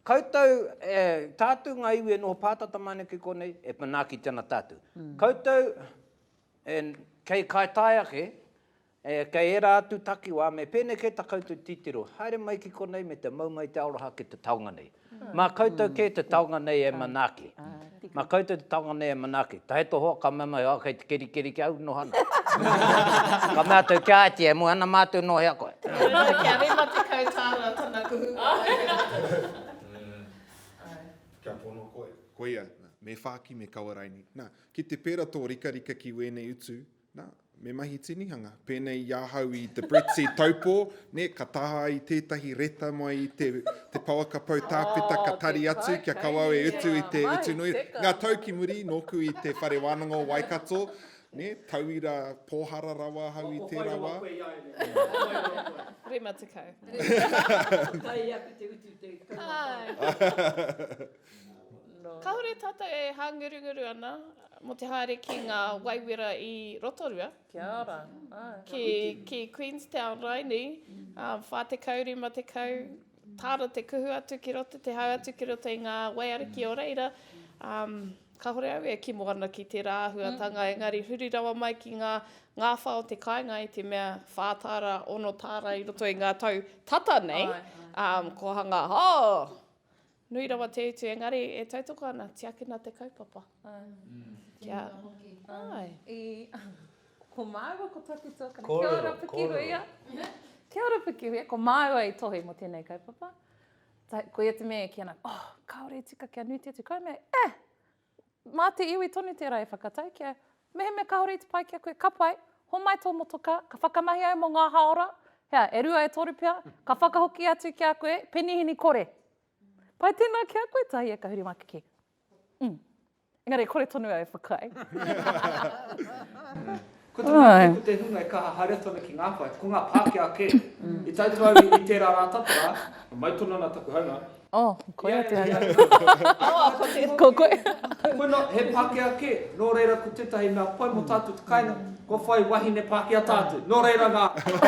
[SPEAKER 1] koutou, e, tātou ngā iwi e noho pātata mai ana ki konei, e manaaki tana tātou. Mm. Koutou, e, kei kai tae ake, E, kei ērā atu takiwā me pēnei kē tā koutou titiro, haere mai ki konei me te mau mai te aroha ki te taonga nei. Mā koutou kē te taonga nei e manaaki. Mā koutou te taonga nei e manaaki. Tae to hoa, ka mea mai, oh, kei te kerikeri ki au, noho ana. Ka mea atu ki a Āti, e moe ana mātou nō hea koe. Nōna kia rima
[SPEAKER 5] tekau tāra tana kuhu kua aia.
[SPEAKER 4] Kia pono koe. Koia, nā, me whāki me kawa raini. Nā, ki te pērā tō rikarika ki wēnei utu, Nā, me mahi tinihanga. Pēnei i ahau i The Brexit Taupō, nē, ka taha ai tētahi reta mai i te, te pouaka pou tāpeta, ka tari atu kia kawau e utu i te utu nui. Ngā tau ki muri, nōku i te Whare Wānanga o Waikato, nē, tauira pōhara rawa ahau i tērā wā. Ako whai
[SPEAKER 5] rawa koe i a ia, ako whai rawa koe.
[SPEAKER 3] Rima tekau. Rima tekau. Kai aku te utu te kaumātai.
[SPEAKER 5] Kāore tātou e hāngurunguru ana mō te haere ki ngā waiwera i Rotorua. Kia ora.
[SPEAKER 7] Ki,
[SPEAKER 5] ki Queenstown, Rainī, um, 40, 50, tāra te kuhu atu ki roto, te hau atu ki roto i ngā waiariki o reira. Um, kāore au e kimo ana ki tērā āhuatanga, mm. engari huri rawa mai ki ngā ngāwha o te kāinga i te mea whā tāra, ono tāra i roto i ngā tau tata nei, um, ko hanga, oh, Nui rawa te utu, engari e tautoko ana, tiakina te kaupapa. Kia. Ko māua
[SPEAKER 7] ko taku tuakana. Kia ora Pikihuia. Kia ora Pikihuia. Ko māua i tohe mo tēnei kaupapa. Koia te mea e kī ana, oh, kāore e tika kia nui te utu. Koia mea, eh! Mā te iwi tonu tērā e whakatau kia, mehemea kāore i te pai ki a koe, ka pai, homai tō motokā, ka whakamahi au mō ngā hāora, hea, e rua, e toru pea, ka whakahoki atu ki a koe, penihini kore. Pai tēnā ki a koe, Tahie, ka huri mā ki kē. Ū. Engari kore tonu au e whakaae.
[SPEAKER 6] Ko te mea kē ko te hunga e kaha haere tonu ki ngā pae, ko ngā Pākehā kē. I taitū au i tērā rā tata rā, mai tonu ana taku haunga. Oh, koia te
[SPEAKER 7] hunga. Ko koe. Koe nā, he
[SPEAKER 6] Pākehā kē. Nō reira ko tētahi mea pai mō tātou te kāinga, kua whai wahine Pākehā tātou. Nō reira nā, haere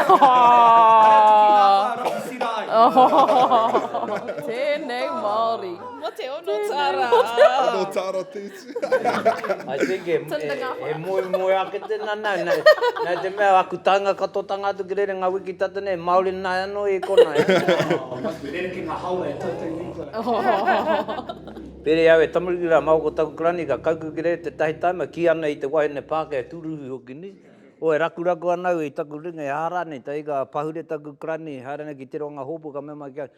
[SPEAKER 6] atu ki ngā pae rapu sira
[SPEAKER 7] ai. Tēnei Māori. Mō te ono
[SPEAKER 5] tāra. Ono tāra
[SPEAKER 4] tētahi. I think
[SPEAKER 1] e moemoea ake tēnā nā, nā te mea aku taenga katotanga atu ki rerenga wiki tata nei, Māori nāi anō i konā e. Oh, must be
[SPEAKER 6] rerekē ngā hāora e tautau nei kua.
[SPEAKER 1] Pērē au e tamariki rā, mā ko taku karani ka kauku ki reira tētahi taima, kī ana i te wahine Pākehā e tūruhi hoki nei, oh e rakuraku ana au i taku ringa, e hā rānei, taika pahure taku karani, haere ana ki Te Ronga Hōpu ka mea mai ki au,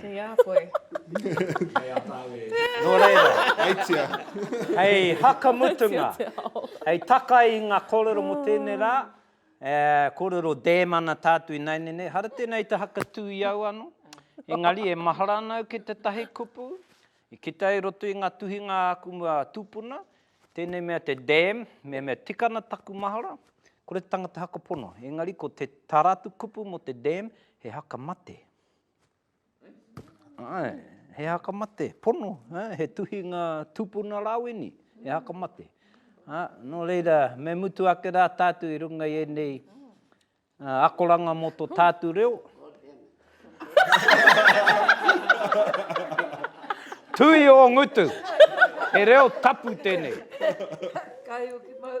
[SPEAKER 6] Kei a koe. Kei a tāu e. Nō reira,
[SPEAKER 1] aitia.
[SPEAKER 4] Hei
[SPEAKER 1] hakamutunga, hei takai i ngā kōrero mō tēnei rā, e, kōrero dam ana tātou ināianei nei, hara tēnā i te hakatū i au anō, engari e mahara ana au ki tētahi kupu, i kite ai i roto i ngā tuhinga a aku mua tūpuna, tēnei mea te dam, me mea tika ana taku mahara, kore te tangata haka pono, engari ko te, tā rātou kupu mō te dam, he haka mate. Ae, he haka mate, pono, he tuhinga tupuna rāweni, he haka mate. Ha, nō reira, me mutu ake rā tātou i runga i ēnei uh, akoranga mō tō tātou reo. Tui o ngutu. He reo tapu tēnei. Kai
[SPEAKER 3] o ki mau.